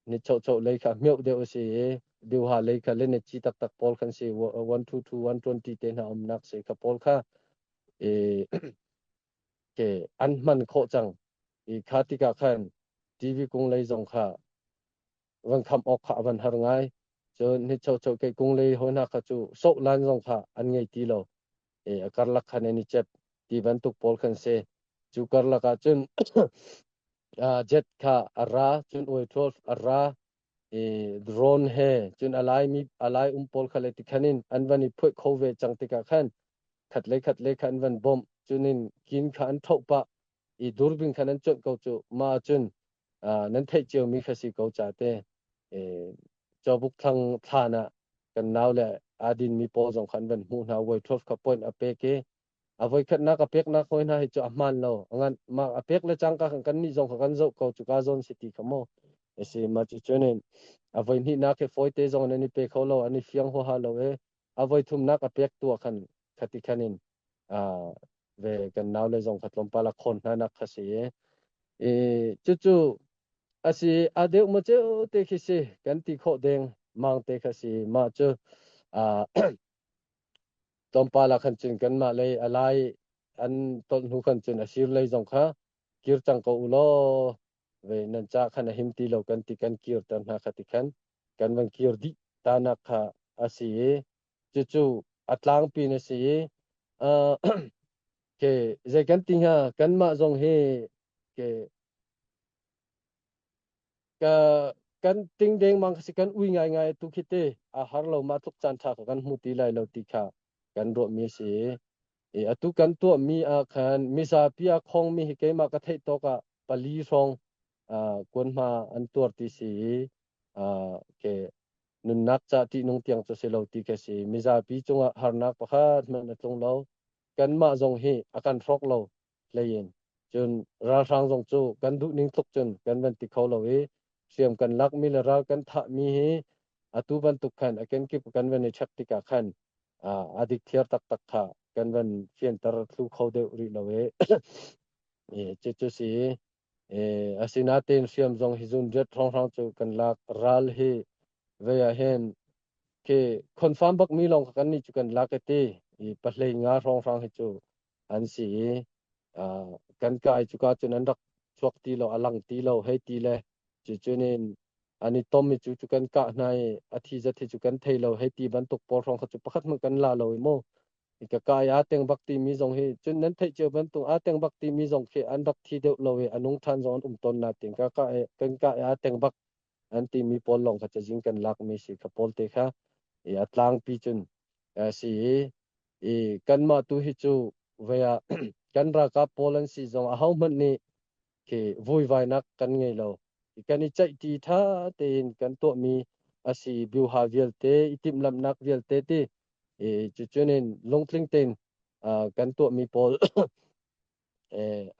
nichocho lei kha meuh deuh a si i biuha lei kha Lenechi taktak pawl kan si 122 120 te hna umnak si kha pawl kha ke an hman khawh cang i kha tikah khan TV kung lei zong kha van kham awk kha a van har ngai cun nichocho ke kung le ho hna kha cu soh lan zong kha an ngei ti lo e a karlak khan ni chep ti bantuk pawl kan se cu karlak ah cun jet kha a ra cun oi 12 a ra e drone he cun alai mi alai um pawl kha le ti khan in an van i phuai kho ve chang tikah khan khat le khat le khan van bom cunin kin kha an thoh pa i durbing kha nan cuanh ko cu ma cun nan theih ciomi kha si ko ca te cawbuk thlang thlan ah kan nau le adin mi pawl zong khan van hmuh hna voi thof kha point a pek i a voi khatnak a peknak hoi hna hi cu a hman lo ngan ma a pek le cangka khan kan nih zong kha kan zoh ko cu ka zawn si ti kha mo esi ma cu chunin a voi hnih nak he foite zong nan i pe kho lo an i fiang ho ha lo e a voithumnak a pek tuah khan khati khan in ve kan nau le zong kha tlawmpal a khawn hna nak kha si i cucu asi a deu ma ceu te khi si kan ti kho deng mang te kha si ma cu tlawmpal a khan cun kan mah le alai an ton hnu khan cun asir lei zong kha kir cang ko ulaw ve nan ca khan a him ti lo kan ti kan kir ter hna kha ti khan kan van kir dih ta nak kha a si i cucu a tlangpi na si i ke zei kan ti hnga kan mah zong hi ke ka kan ting deng mang si kan ui ngai ngai tu khi te a har lo ma tluk chan tha ko kan hmu ti lai lo ti kha kan ruah mi si Atu kan tuahmi ah khan mizapi a khawngmi hi keimah ka theih tawk ah pali hrawng kuanhma an tuar ti si i ke nunnak ca ṭihnung tiang cu si lo ti ka si. Mizapi cungah harnak pakhat hmanh a tlung lo. Kanmah zong hi a kan hrawk lo. hleiin cun ralhrang zong cu kan duhning tluk cun kan van ti kho lo i hriam kan lak mineral kan thah mi hi atu bantuk khan a kenkip kan van i check tikah khan a dik thiar taktak kha kan van fianter thlu kho deuh rih lo e cucu si asinain hriam zong hi zun riat hranghrang cu kan lak ral hi vei ah hin ke confirm bak mi lawng kan ni cu kan lak e ti i pahlei nga hranghrang hi cu an si i kan kai cuka cun an rak chuak ti lo a lang ti lo hei ti le cucunin an i tom i cu cu kan kah hna i a thi zat hi cu kan thei lo hei ti bantuk pawl hrawng kha cu pakhat hmanh kan la lo i mo i ka kai a teng bak ti mi zong hi cun nan theih cio bantuk a teng bak ti mi zong khi an rak thi deuh lo i a nung than zong an um ton na tin ka ka kan ka a teng bak an timi pawl lawng kha cazin kan lakmi si ka pawl te kha i a tlangpi cun a si i i kanmah tu hi cu vea kan ralkap pawl an si zong ahohmanh nih khi vuivainak kan ngei lo kan i ceih ti tha tein kan tuahmi asi biuha vialte i timhlamhnak vialte ti i cucunin lungtling tein kan tuahmi pawl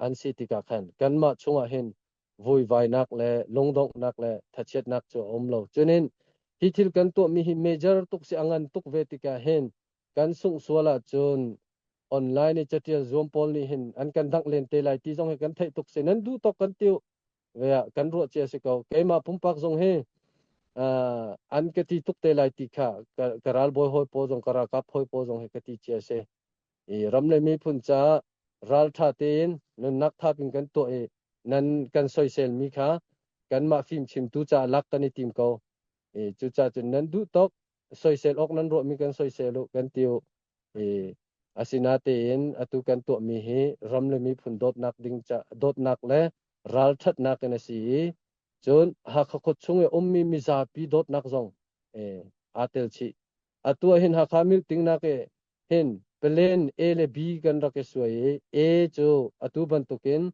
an si tikah khan kanmah chungah hin vuivainak le lungdonghnak le thachiatnak cu a um lo. Cunin hi thil kan tuahmi hi major tuk si a ngan tuk ve tikah hin kan sungh sual ahcun online i catial zuam pawl nih hin an kan dangh len te lai ti zong hi kan theih tuk si nan duh tawk kan tiu ve ah kan ruah cia si ko keimah pumpak zong hi an ka ti tuk te lai ti kha ka ral bawi hawi pawl zong ka rakap hawi pawl zong hi ka ti cia si i ram le miphun caah ralṭha tein nunnak thap in kan tuah i nan kan soiselmi kha kanmah fimchimtu caah lak kan i tim ko. I cucaah cun nan duh tawk soisel awk nan ruahmi kan soisel u kan ti u. I asinatein atu kan tuahmi hi ram le miphun dawtnak ding ca dawtnak le ralṭhatnak in a si i cun Hakha khuat chung i ummi mizapi dawtnak zong eh, aa tel chih. Atu ahhin Hakha milting nak i hin palen A le B kan rak i suai i A cu atu bantukin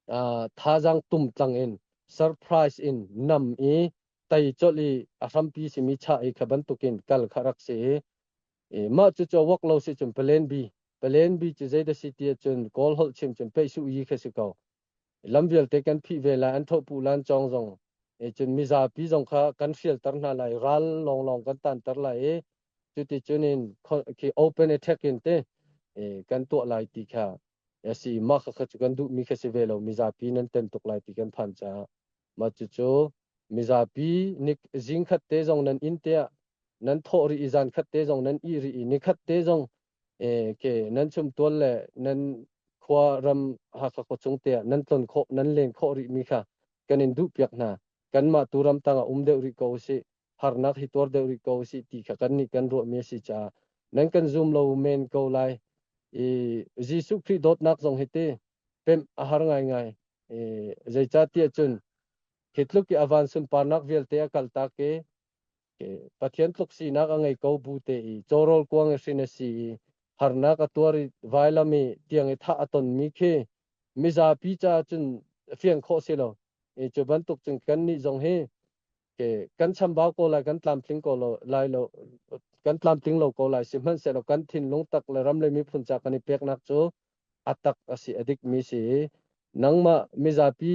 uh, thazang tum tlang in surprise in nam i tei colh i a hrampi simi chah i kha bantukin kal kha rak si i i mah cu cho wak lo si cun palen B palen B cu zeida si ti cun kawl holh chim cun peih su yi kha si ko lam vialte kan phih ve lai, an thohpuh lan cawng zong cun mizapi zong kha kan hrialter hna lai, ral lawnglawng kan tanter lai i cuticun in open attack in te kan tuah lai ti kha a si i mah kha cu kan duhmi kha si ve lo mizapi nan ten tuk lai ti kan phan caah mah cucu mizapi nik zing khat te zong nan in tiah nan thawh rih i zan khat te zong nan ih rih i nikhat te zong Ok, nan chumtual le nan khua ram Hakha khuachung te ah nan tlon khawh, nan len khawh rih mi kha kan in duhpiak hna. Kanmah tu ram tang ah um deuh rih ko usih, harnak hi tuar deuh rih ko usih ti kha kan nih kan ruah mi a si caah nan kan zum lo men ko lai. I Jesuh Khrih dawtnak zong hi ti pemh a har ngaingai. I zeicatiah cun hi tluk i avan sunparnak vialte a kaltak i Pathian tluk sinak a ngei ko bu te i cawrawl kuang i hrin a si i harnak a tuar i vailam i tiang i thah a tonmi khi mizapi caah cun fiang khawh si lo. I cu bantuk cun kannih zong hi ke kan chambau ko lai kan tlamtling ko lo lai lo kan tlamtling lo ko lai sihmanhsehlaw kan thinlung tak le ram le miphun ca kan i peknak cu a tak a si a dikmi si i nangmah mizapi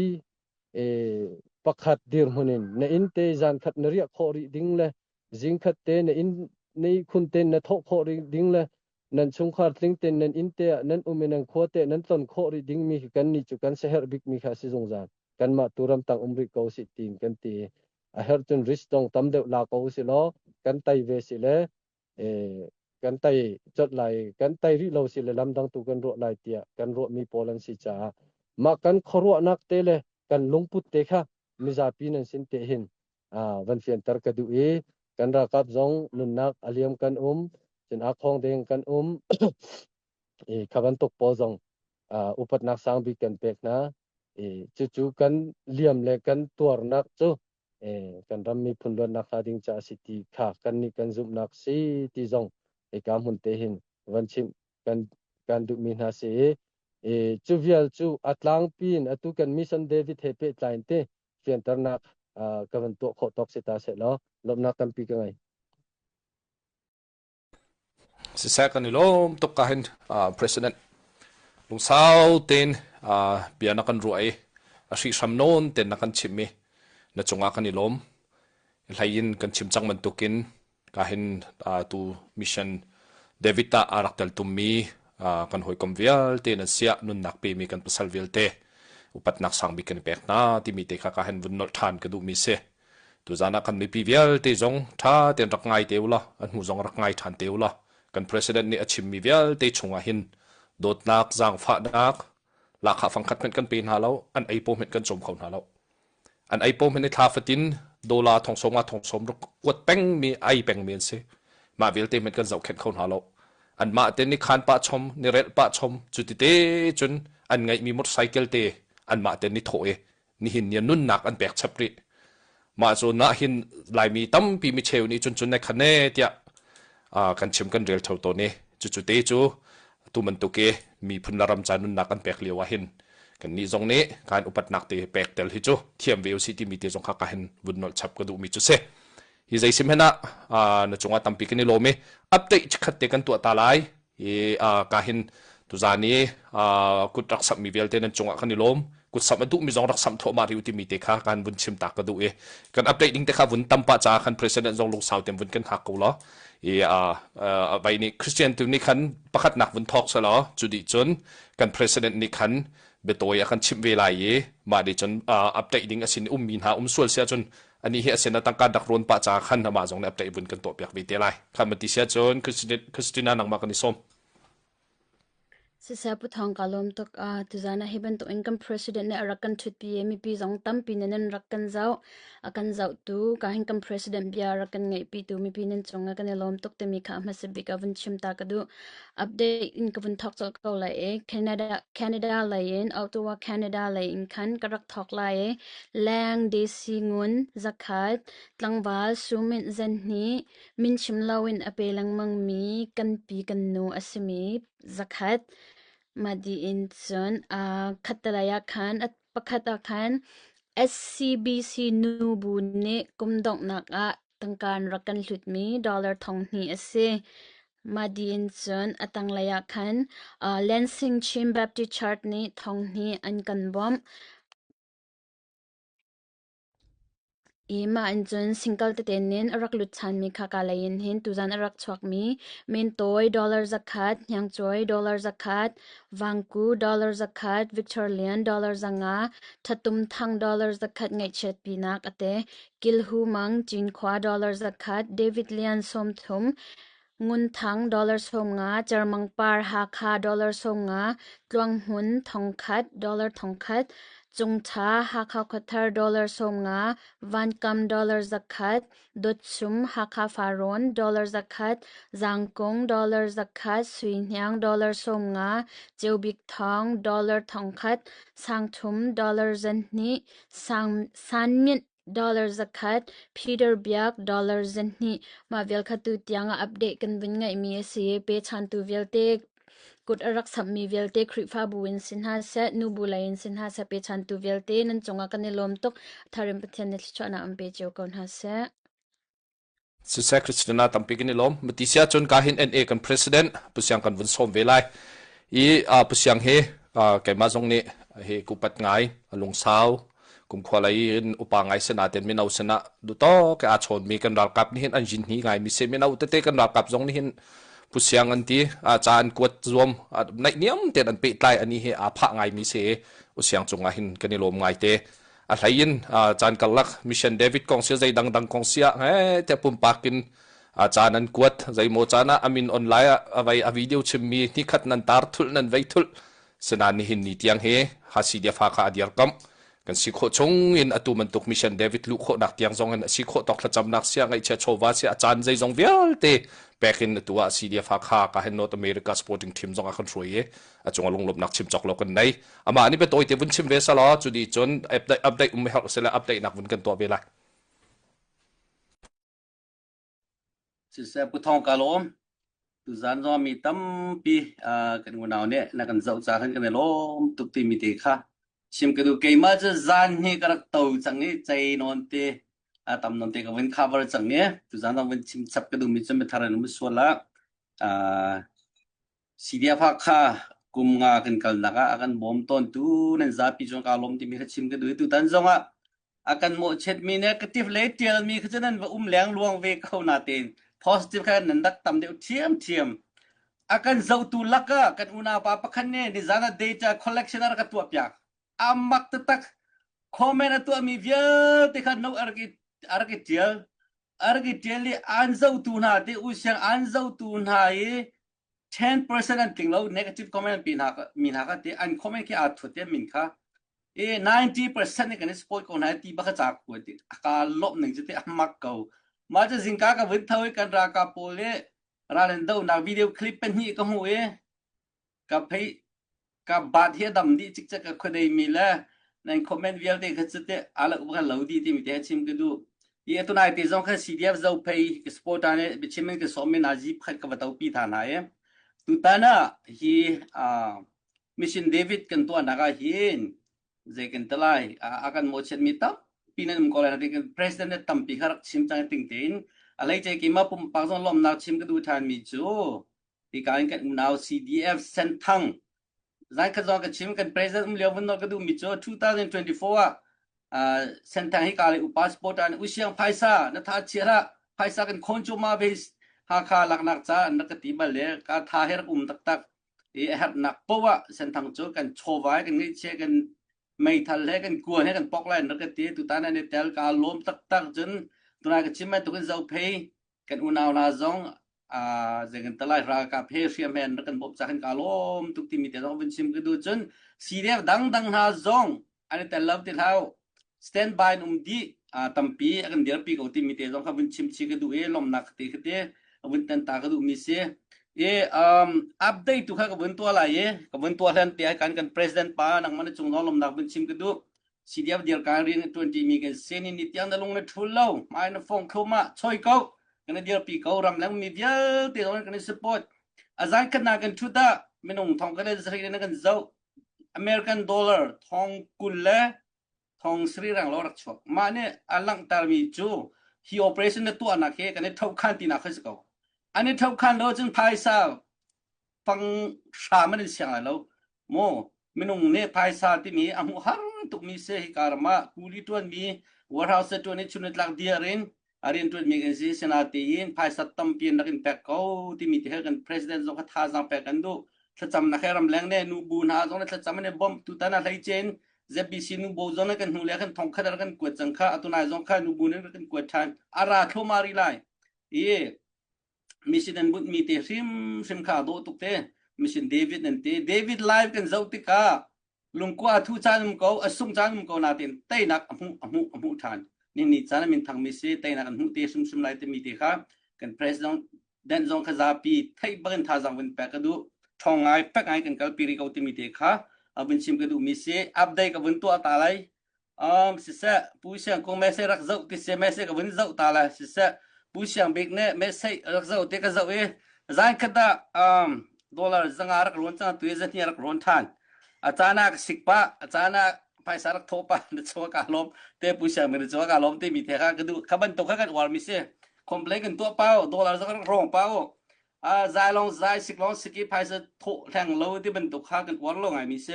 pakhat dirhmun in na inn te zankhat na riah khawh rih ding le zingkhat te na inn na ihkhun ten na thawh khawh rih ding le nan chungkhar tling ten nan inn te ah nan um i nan khua te nan ton khawh rih ding mi hi kan ni cu kan seher bik mi kha si zungzal kan mah tu ram tang um rih ko si tin kan ti a her cun risk tong tam deuh la ko si lo kan tai ve si le kan tai chot lai kan tai rih lo si le lamdang tu kan ruah lai tiah kan ruahmi pawl an si caah mah kan khuaruahnak te le kan lungput te kha mizapi nan sin te hin van fianter ka duh i kan rakap zong nunnak aliam kan um cin akhong deng kan um i khaban tuk pawl zong upatnak sang bik kan pek hna i cucu kan liam le kan tuarnak cu kan ram miphun luatnak hla ding ca a si ti kha kan nih kan zumhnak si ti zong ika hmun te hin van chim kan kan duhmi hna si i cu vial cu a tlangpi in atu kan mission david he pe tlai te fianternak ka van tuah khawh tawk si ta se law lomnak tampi ka ngei Siseh kan i lawm tuk ahin uh, President. Lungsau tein uh, bia na kan ruah i a hrihhram nawn tein na kan chim i na cungah kan i lawm. Hlei in kan chim cang bantukin ka hin uh, tu mission David ah a rak tel tummi uh, kan hawikom vialte nan siah nunnak pemi kan pasal vialte upatnak sang bik kan i pek hna timi te kha ka hen vun nolh ṭhan ka duhmi si. Tuzan ah kan mipi vialte zong ṭha tein rak ngai te u law an hmuh zong rak ngai ṭhan te u law kan president nih a chimmi vialte chungah hin dawtnak, zaangfahnak, lahkhah fangkhat hmenh kan pe hna lo, an ei paw hmenh kan cawm kho hna lo. An ei paw hmenh i thla fatin dola thongsawm nga thongsawm ruk kuat pengmi ai pengmi an si. Mah vialte hmenh kan zohkhenh kho hna lo. An mah te ni khan pah chom, ni rel pah chom, cu ti te cun an ngeihmi motorcycle te an mah te ni thawh i nihin ni nunnak an pek chap rih mah cu nah hin laimi tampi micheu nih cun cun ne khan ne tiah kan chim kan rel tho to ni cucu te cu tu man tuke miphun la ram ca nunnak an pek lio ah hin kan ni zong nih kan upatnak te pek tel hi cu thiam ve usi ti mi te zong kha ka hin vun nol chap ka du mi chu se hi zai sim hena na chunga tampi kini lomi update khat te kan tuah ta lai i uh, ka hin tuzan i uh, kut rak samh mi vialte nan cungah kan i lawm kut samh a duh mi zong rak samh thawh ma riu timi te kha kan vun chim tak ka duh i kan update ding te kha vun tampa ca kan president zong lungsau tem vun kan hak ko lo i uh, uh, bai ni christian tu ni khan pakhat nak vun thok sa lo cu di chun kan president ni khan betoi a kan chim ve lai i ma de chun uh, update ding asin um mi hna um sual sia chun Anih hi a sin a tangka dak run pa caah khan amah zong nih a teibun kan tuah piak ve te lai. Khan man ti sia cun Christina nangmah kan i som. Sisa puthong ka lom tuk a tuzana hi bantuk in kan president ne arak kan thut pi mi pi zong tampi ne nan rak kan zau a kan zau tu ka hin kan president bia rak kan ngai pi tu mi pi nan chung a kan i lom tuk te mi kha ma se bik a vun chim ta ka du Update in ka vun thawk colh ko lai i Canada, Canada lei in Ottawa, Canada lei in khan ka rak thawk lai i leng DC ngun zakhat tlangval sumint zen hi min chim loin a pe lengmang mi kan pi kan nu a simi zakhat madi in cun uh, khatalai ah khan pakhat ah khan SCBC nu bu nih kum donghnak ah Tangkaan rak kan hlutmi dollar thong hnih a si. Mah dih in cun a tanglei ah khan uh, Lansing Chin Baptist Church nih thong hnih an kan bawmh. I mah in cun singkal tete nin a rak lut than mi khaka lei in hin tuzan a rak chuak mi min tawi dollar zakhat, hniang cuai dollar zakhat, vangku dollar zakhat, Victor Lian dollar zanga, thatum thang dollar zakhat ngaihchiat pinak ate Kilhu Mang Cinkhua dollar zakhat, David Lian sawm thum, Ngun Thang dollar sawm nga, Cermang Par Hakha dollar sawm nga, Tluang Hmun thong khat dollar thong khat, Cung Tha Hakha Khuathar dollar sawm nga, Van Kam dollar zakhat, Dawt Sum Hakha Faron dollar zakhat, Zang Kung dollar zakhat, Sui Hniang dollar sawm nga, Ceu Bik Thawng dollar thong khat, Sang Thum dollar zan hnih, Sanmint dollar zakhat, Peter Biak dollar zenhnih mah vialkha tutiang ah update kan vun ngeihmi a si. Pechantu vialte, kut a rak sammi vialte Khrihfabu in si hna seh, nubu lei in si hna seh, pechantu vialte nan cungah kan i lawm tuk. Tharim Pathian nih thluachuahnak an pe cio ko hna seh. Siseh Christina tampi kan i lawm. Matisi ahcun ka hin NA kan president pusiang kan vun sawm ve lai i uh, pusiang hi uh, keimah zong nih hi kupat ngai lungsau kumkhua lai in upa ngai sena ten mino sena duto ke a chon mi kan ralkap ni hin an jin hi ngai mi se mino tete kan ralkap zong ni hin pusiang an ti a cha an kuat zuam nai niam ten an pe tlai ani hi a pha ngai mi se usiang chunga hin kan i lom ngai te a hlei in caan karlak mission david kong sia zei dangdang kong sia he te pumpak in caan an kuat zeimaw caan ah amin online ah avei a video chimmi ni khat nan tar thul nan vei thul senan nihin ni tiang hi hasi dia fa ka adiar kam kan si kho chung in atu man tuk mission david lu kho nak tiang zong in si kho tok thlacam nak sia ngai che chova sia chan zei zong vialte pek in atu a si dia fa kha ka hen north america sporting team zong a kan hroi e a cunga lunglawmnak chim cawk lo kan nei amah nih biatawi te vun chim ve sala cu ni cun update um her sila update nak vun kan tuah ve lai sise puthong kalom tuzan zong mi tampi kan unau ne na kan zau cha kan kan lom tuk ti mi te kha chim ka du keima chu zan hi ka rak to chang ni chai non te a tam non te ka vin cover chang ne tuzan zong vin chim chap ka du mi chu me tharen mu suala Sibiafak kha kum nga kan kalnak ah a kan bawm tawntu nan zapi cu kaa lawm timi kha chim ka duh i tutan zongah a kan mawhchiatmi le ka tif le ṭialmi kha cu nan va um lengluang ve ko natein positive kha nan rak tam deuh ṭhiamṭhiam. A kan zohtu lakah kan unaupa pakhat nih nizan ah data collection a rak ka tuahpiak. A mak taktak. Comment a tuahmi vialte kha no a rak i a rak i ṭial. A rak i ṭial i an zohtu hna te, u siang an zohtu hna i ten percent an tling lo negative comment an pe hna mi hna ka ti an comment khi aa thut em min kha e ninety percent nih kan i support ko hna ti baka ca ku ti aka lop ning cu ti a mak ko ma cha zingka ka vun thau i kan ralkap pawl le ralen do na video clip pen hi ka hu e ka phei Kampaan hi a dam dih cikcek ka khuadeimi le nan comment vialte kha cu teh alak va kan lo di timi te chim ka duh. Ti atunai te zong khan CDF zo phei ka supporter ne biachim in ka sawm in aji phat ka va topi tha hna e. Tutan ah hi uh, mission David kan tuahnak ah hin zei kan talai a kan mochet mi tam pinan um ko lai kan president ne tampi kha rak chim chang ting tein alai che ki ma pumpak zong lomnak chim ka du than mi cu Hika in kan unau CDF Senthang zankhat zong ka chim kan president um lio vun no ka duh mi cu 2024 ah uh, Senthang hika le upa sport an usiang phaisa na tha chia la phaisa kan khon chu ma ve hakha laknak ca na ka ti bal le ka tha her um tak tak i her nak powa Senthang cu kan chovai kan ngai che kan meithal he kan kuan he kan pok lai na ka ti tu ta na ne tel ka lom tak tak cun tunai ka chim mai tukin zo phei kan unau la zong uh, zegantalai ralkap he hriamen rak kan bawp cakhan ka lom tuk timi te zong vun sim ka du cun CDF dangdang hna zong an tel lo te thau stand by um di uh, tampi akan dirpi ko timi te zong kha vun chim chi ka du e lomnak te khate vun tan ta ka du mi si e um update tu kha ka vun tua lai e ka vun tua hlan te kan kan president pa nang man chung no lomnak vun chim ka du si diam dir ka rian na tuan mi kan se ni ni tiang na lung na thul lo mai na phong kho ma choi ko kana dir pi ko ram lang mi vial te kan kan support azan kan na kan thu da minung thong kan sri na kan zo American dollar thong kul le thong sri rang lo rak chok ma ne alang tar mi chu hi operation na tu anak he kan thau khan ti na khas ko ani thau khan lo chun phaisa fang hram an in siang lai lo maw minung nih phaisa timi a hmuh har tukmi se hi ka ram ah kuli ṭuanmi warehouse se ṭuan i chunitlak dir in a rian ṭuanmi kan si sinain phaisa tampi in rak in pek ko timi ti her kan president zong kha thazaang pek kan duh thlacam na khe ram leng ne nu bu hna zong le thlacam ne bom tu tan a hlei chen ZBC nu bo zong kan hnu le kan thong khat kan kuat cang kha atunai zong kha nu bu ne kan kuat than ara thlomari lai i Mission an bunhmi te hrimhrim kha a dawh tuk te. Mission David an ti. David live kan zoh tikah lungkua a thu caan um ko, a sung caan um ko nain teinak a hmuh, a hmuh, a hmuh ṭhan. Ningnih caan ah minthangmi si teinak an hmuh te hrimhrim lai timi te kha kan president zong kha zapi theih bak in thazaang vun pek ka duh. Ṭhawng ngai, fek ngai kan kalpi rih ko timi te kha a vun chim ka duhmi si. Update ka vun tuah ta lai. Um, siseh, Pu Siang kong message rak zoh ti se message ka vun zoh ta la siseh, Pu Siang Bik nih message rak zoh ti ka zoh i zan khat da um, dollar zanga rak rawn cang tu zan hni rak rawn than. A cana ka sik pa, a cana phaisa rak tho pa na chuak ka lom te Pu Siang min chuak ka lom te mi the ka ka du ka ban to ka kan war mi se complain kan to pao dollar zang rak rong pao zailong zai siklong siki phaisa thawh hleng lo ti bantuk kha kan uar lo ngai mi si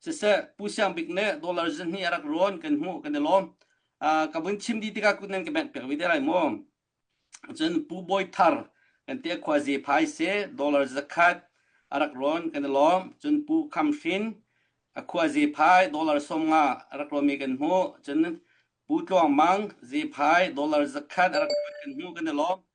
siseh pu siang bik le dollar zin hi arak ruan kan hmu kan i lawm ka buin chim di tika kut nan ka bek pek vi te lai mo cun pu boy thar kan te khwa je phai se dollar zakhat arak ruan kan i lawm cun pu kham hrin akhua je phai dollar som nga arak romi kan hmu cun pu tluang mang je phai dollar zakhat arak kan hmu kan i lawm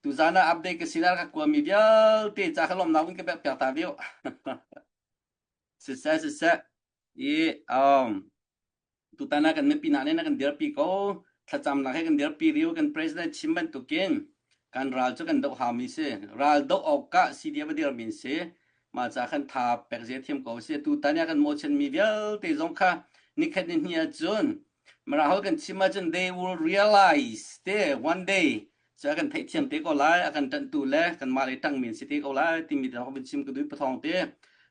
Tuzan ah update ka sinar ka kuami vialte ca ka lomnak in ka pek piak ta deuh. Siseh siseh. I um tutan ah kan mipi na ne kan dirpi ko thlacam nak he kan dirpi riu kan president chim bantukin kan ral cu kan doh hami si ral doh awk ka si dia badir min si ma cha kan tha pek je thiam ko si tutan ya kan mochan mi vialte zong kha nikhat ni hnia cun mara hol kan chim ma cun they will realize te one day Cu a kan theihthiam te ko lai, a kan ṭanhtu le kanmah le ṭangmi an si te ko lai timi te rak vun chim ka duh pathawng te.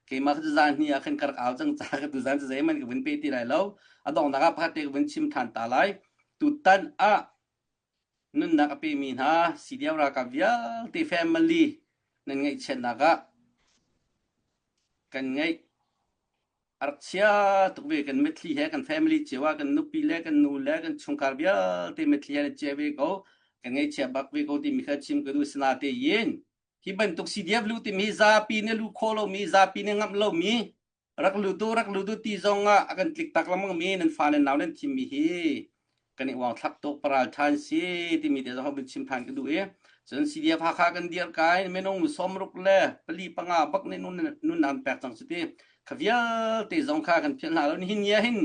Keimah ka cuzan hi ah khan ka rak au cang caah ka tuzan cu zeihmanh ka vun pe ti lai lo. A donghnak ah pakhat te ka vun chim ṭhan ta lai. Tutan ah nunnak a pemi hna CDF ralkap vialte family nan ngeihchiatnak ah kan ngeih Archia tuk ve kan mitthli he kan family cio ah kan nupi le kan nu le kan chungkhar vialte mitthli he an cie ve ko kan ngeichia bak ve ko timi kha chim ka duh sina te yin hi bantuk CDF lu timi zapi nih lu khaw lomi zapi nih ngamh lomi rak lu tu rak lu tu ti zong ah a kan tlik tak lengmang mi nan fa le nau nan thim mi hi kan i uang thlak tuk paral tthan si timi te zong hau chim than ka duh i cun CDF Hakha kan dir kai minung sawm ruk le pali panga bak nih nun an pek cang cuti kha vialte zong kha kan phian hna lo hin ngia hin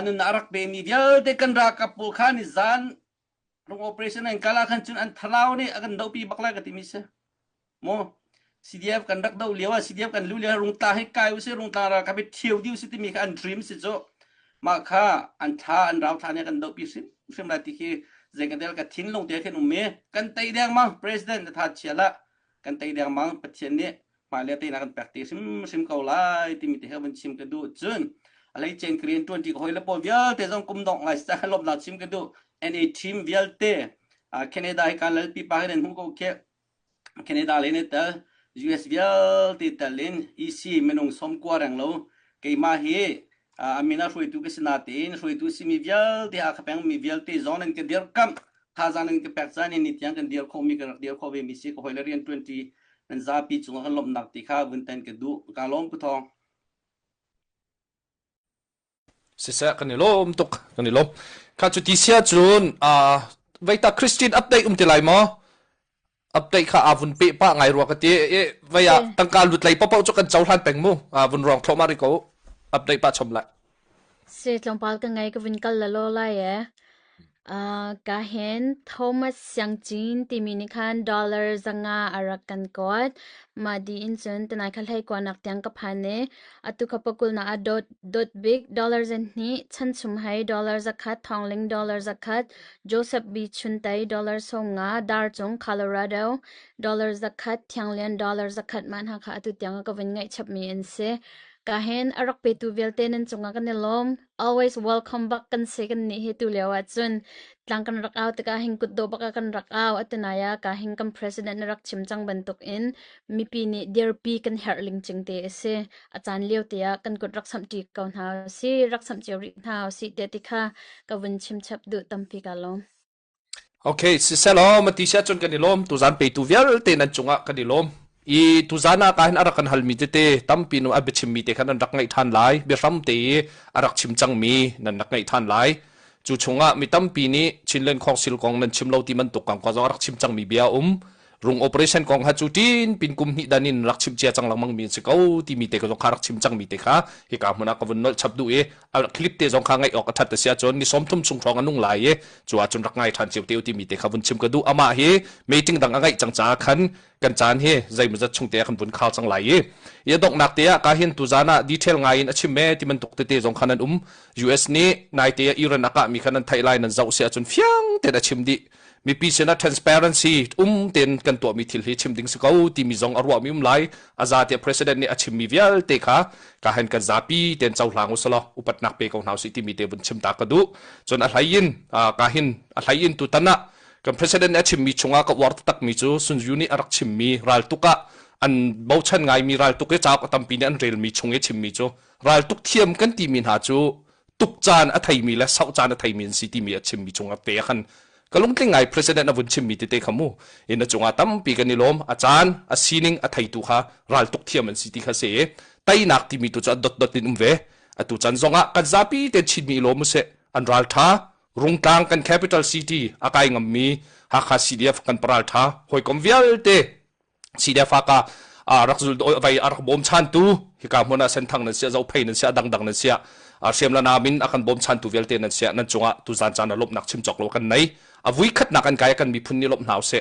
nun a rak pe mi vialte kan rakap pawl kha ni zan lung operation an kala khan cun an thalau nih a kan dopi bak lai ka ti mi si maw CDF kan rak doh lio ah CDF kan luh lio ah rungtla hi kai usih rungtla ra ka mit thio di usih timi kha an dream si cu mah kha an tha an rau than i kan doh pi hrim hrim la ti khi zeikatel ka thin lung te khin um mi kan tei deng ma president tha chia la kan tei deng ma pathian nih mah le te na kan pek ti hrim hrim ko lai ti mi te kha ban chim ka du chun alai chen korean 20 ko hoi le po vialte zong kum dong lai sa lom la chim ka du and a team vialte canada hi kan lal pipa hi den hu ko ke Canada le nan tel. US vialte tel in EC minung sawm kua reng lo. Keimah hi uh, a min a hruaitu ka si natein hruaitu simi vialte Akhapeng mi vialte zong nan ka dirkamh. Thazaang nan ka pek caan in ni tiang kan dir khawhmi ka rak dir khawh ve mi si. Ka hawile riantuanti nan zapi cungah ka lawmhnak ti kha vun ten ka duh. Ka lawm ku thawng. siseh kan i lawm tuk kan i lawm kha cu ti sia cun a veita christian update um ti lai maw update kha a vun pe pa ngai rua ka ti e vai a tangka lut lei popo chu kan chau hlan peng mu a vun rong thloma ri ko update pa chom lại se tlongpal ka ngai ka vin kal la lo lai e Ka hen Thomas Siangcin timi nih khan dollar zanga a rak kan kuat. Mah di in cun tanai kha hleikuanak tiang ka phan i atu kha pakulnak ah dot, dot bik dollar zen hnih, chanchum hai dollar zakhat, thongling dollar zakhat, Joseph B. Chuntai dollar sawmnga, dar cung Colorado dollar zakhat, thianglian dollar zakhat man ha kha atu tiang a ka vun ngaihchapmi an si. Ka hen a rak petu vialte nan cungah kan i lawm. always welcome bak kan se kan ni hi tu leo ah cun tlang kan rak au tikah hin kutdaw bak a kan rak au atinaya ka hin kan president na rak chim cang bantuk in mipi nih dirpi kan herh ling ching te asi achan lio te ah kan kut rak sam ti ko hna si rak sam cio ri hna si te tikha ka vun chim chap du tampi ka lo Okay, sisehlaw mati si ahcun kan i lawm. Tuzaan peitu vialte nan cungah kan i lawm. I tuzaan ah ka hin a rak kan halmi tete tampi nu a biachimmi te khan an rak ngaih ṭhan lai. Biahram te i a rak chim cangmi nan rak ngaih ṭhan lai. Cu chungah mi tampi nih Chinland Council kong nan chim lo ti bantuk kang kong zong a rak chim cangmi bia a um. Rung operation kong kha cu ṭin pin kum hnih dan in rak chim cia cang lengmang mi si ko timi te ka zong kha rak chim cang mi te kha hi ka hmun ah ka vun nolh chap duh i a clip te zong kha ngaih awk a ṭhat sia cun ni sawm thum chung hrawng a nung lai i cu ah cun rak ngai ṭhan cio te ti mi te kha vun chim ka duh amah hi meeting dang a ngaih cang caah khan kan caan hi zeimawzat zat chung te ah kan vun khao cang lai i ia donghnak te ah ka hin tu zan ah detail ngai in a chim me ti man tuk tete zong khan an um US nih nai te ah Iran aka mi khan an thai lai nan zoh sia cun fiang te a chim dih mipi sinah transparency um tein kan tuahmi thil hi chim ding si ko timi zong a ruahmi um lai a za tiah president nih a chimmi vialte kha ka han kan zapi ten cohlang u sala upatnak pe ko hna si timi te vun chim ta ka duh cun a hlai in ka hin a hlai in tu tan ah kan president nih a chimmi chungah ka uar takmi cu sunju nih a rak chimmi raltuk ah an bochan ngaimi raltuk i cauk a tampi nih an relmi chung i chimmi cu raltuk thiam kan timi hna cu tuk caan a theimi le sau caan a theimi an si timi a chimmi cungah te khan ka lungtling ngai president a vun chimmi tete kha mu in a cungah tampi kan i lawm a caan a sining a theitu kha ral tuk thiam an si ti kha se teinak timi tu cu a dot dot in um ve atu chan zongah kan zapi te chinmi i lawm se an ral tha rungtlang kan capital city akai ngammi hakha cdf kan paral tha hoikom vialte si le fa ka rak zul vai a rak bawm chan tu hika hmun ah senthang nan sia zo phei nan sia dangdang nan sia hriam la namin akan bawm chan tu vialte nan sia nan chungah tu zan chan lop nak chim chok lo kan nei a vui khat nak an kai kan mi phun ni lop hnaw se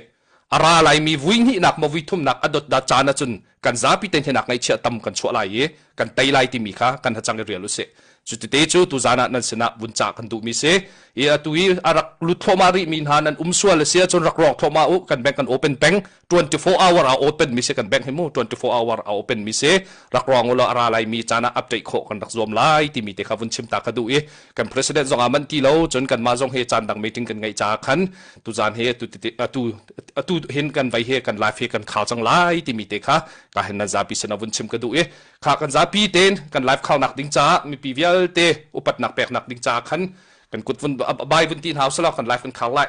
ara lai mi vui ni nak mo vui thum nak adot da chan achun kan zapi ten henak ngai chia tam kan chwa lai i kan tai lai ti mi kha kan hachang i real se chu te chu tu zana nan sena bun cha kan du mi se i atu i arak lut thoma ri mi na nan um sual sia chun rak rok thoma u kan bank kan open bank 24 hour a open mi si kan bank hi mu 24 hour a open mi si rak ruang ulo ara lai mi cana update kho kan rak zuam lai ti mi te kha vun chim ta ka du i kan president zong a man ti lo chun kan ma zong he chan dang meeting kan ngai cha khan tu zan he tu tu tu hin kan vai he kan live he kan khao chang lai ti mi te kha ka hen na zapi sen vun chim ka du i kha kan zapi ten kan live khao nak ding cha mi pi vial te upat nak pek nak ding cha khan kan kut vun bai vun ti hau sala kan live kan khao lai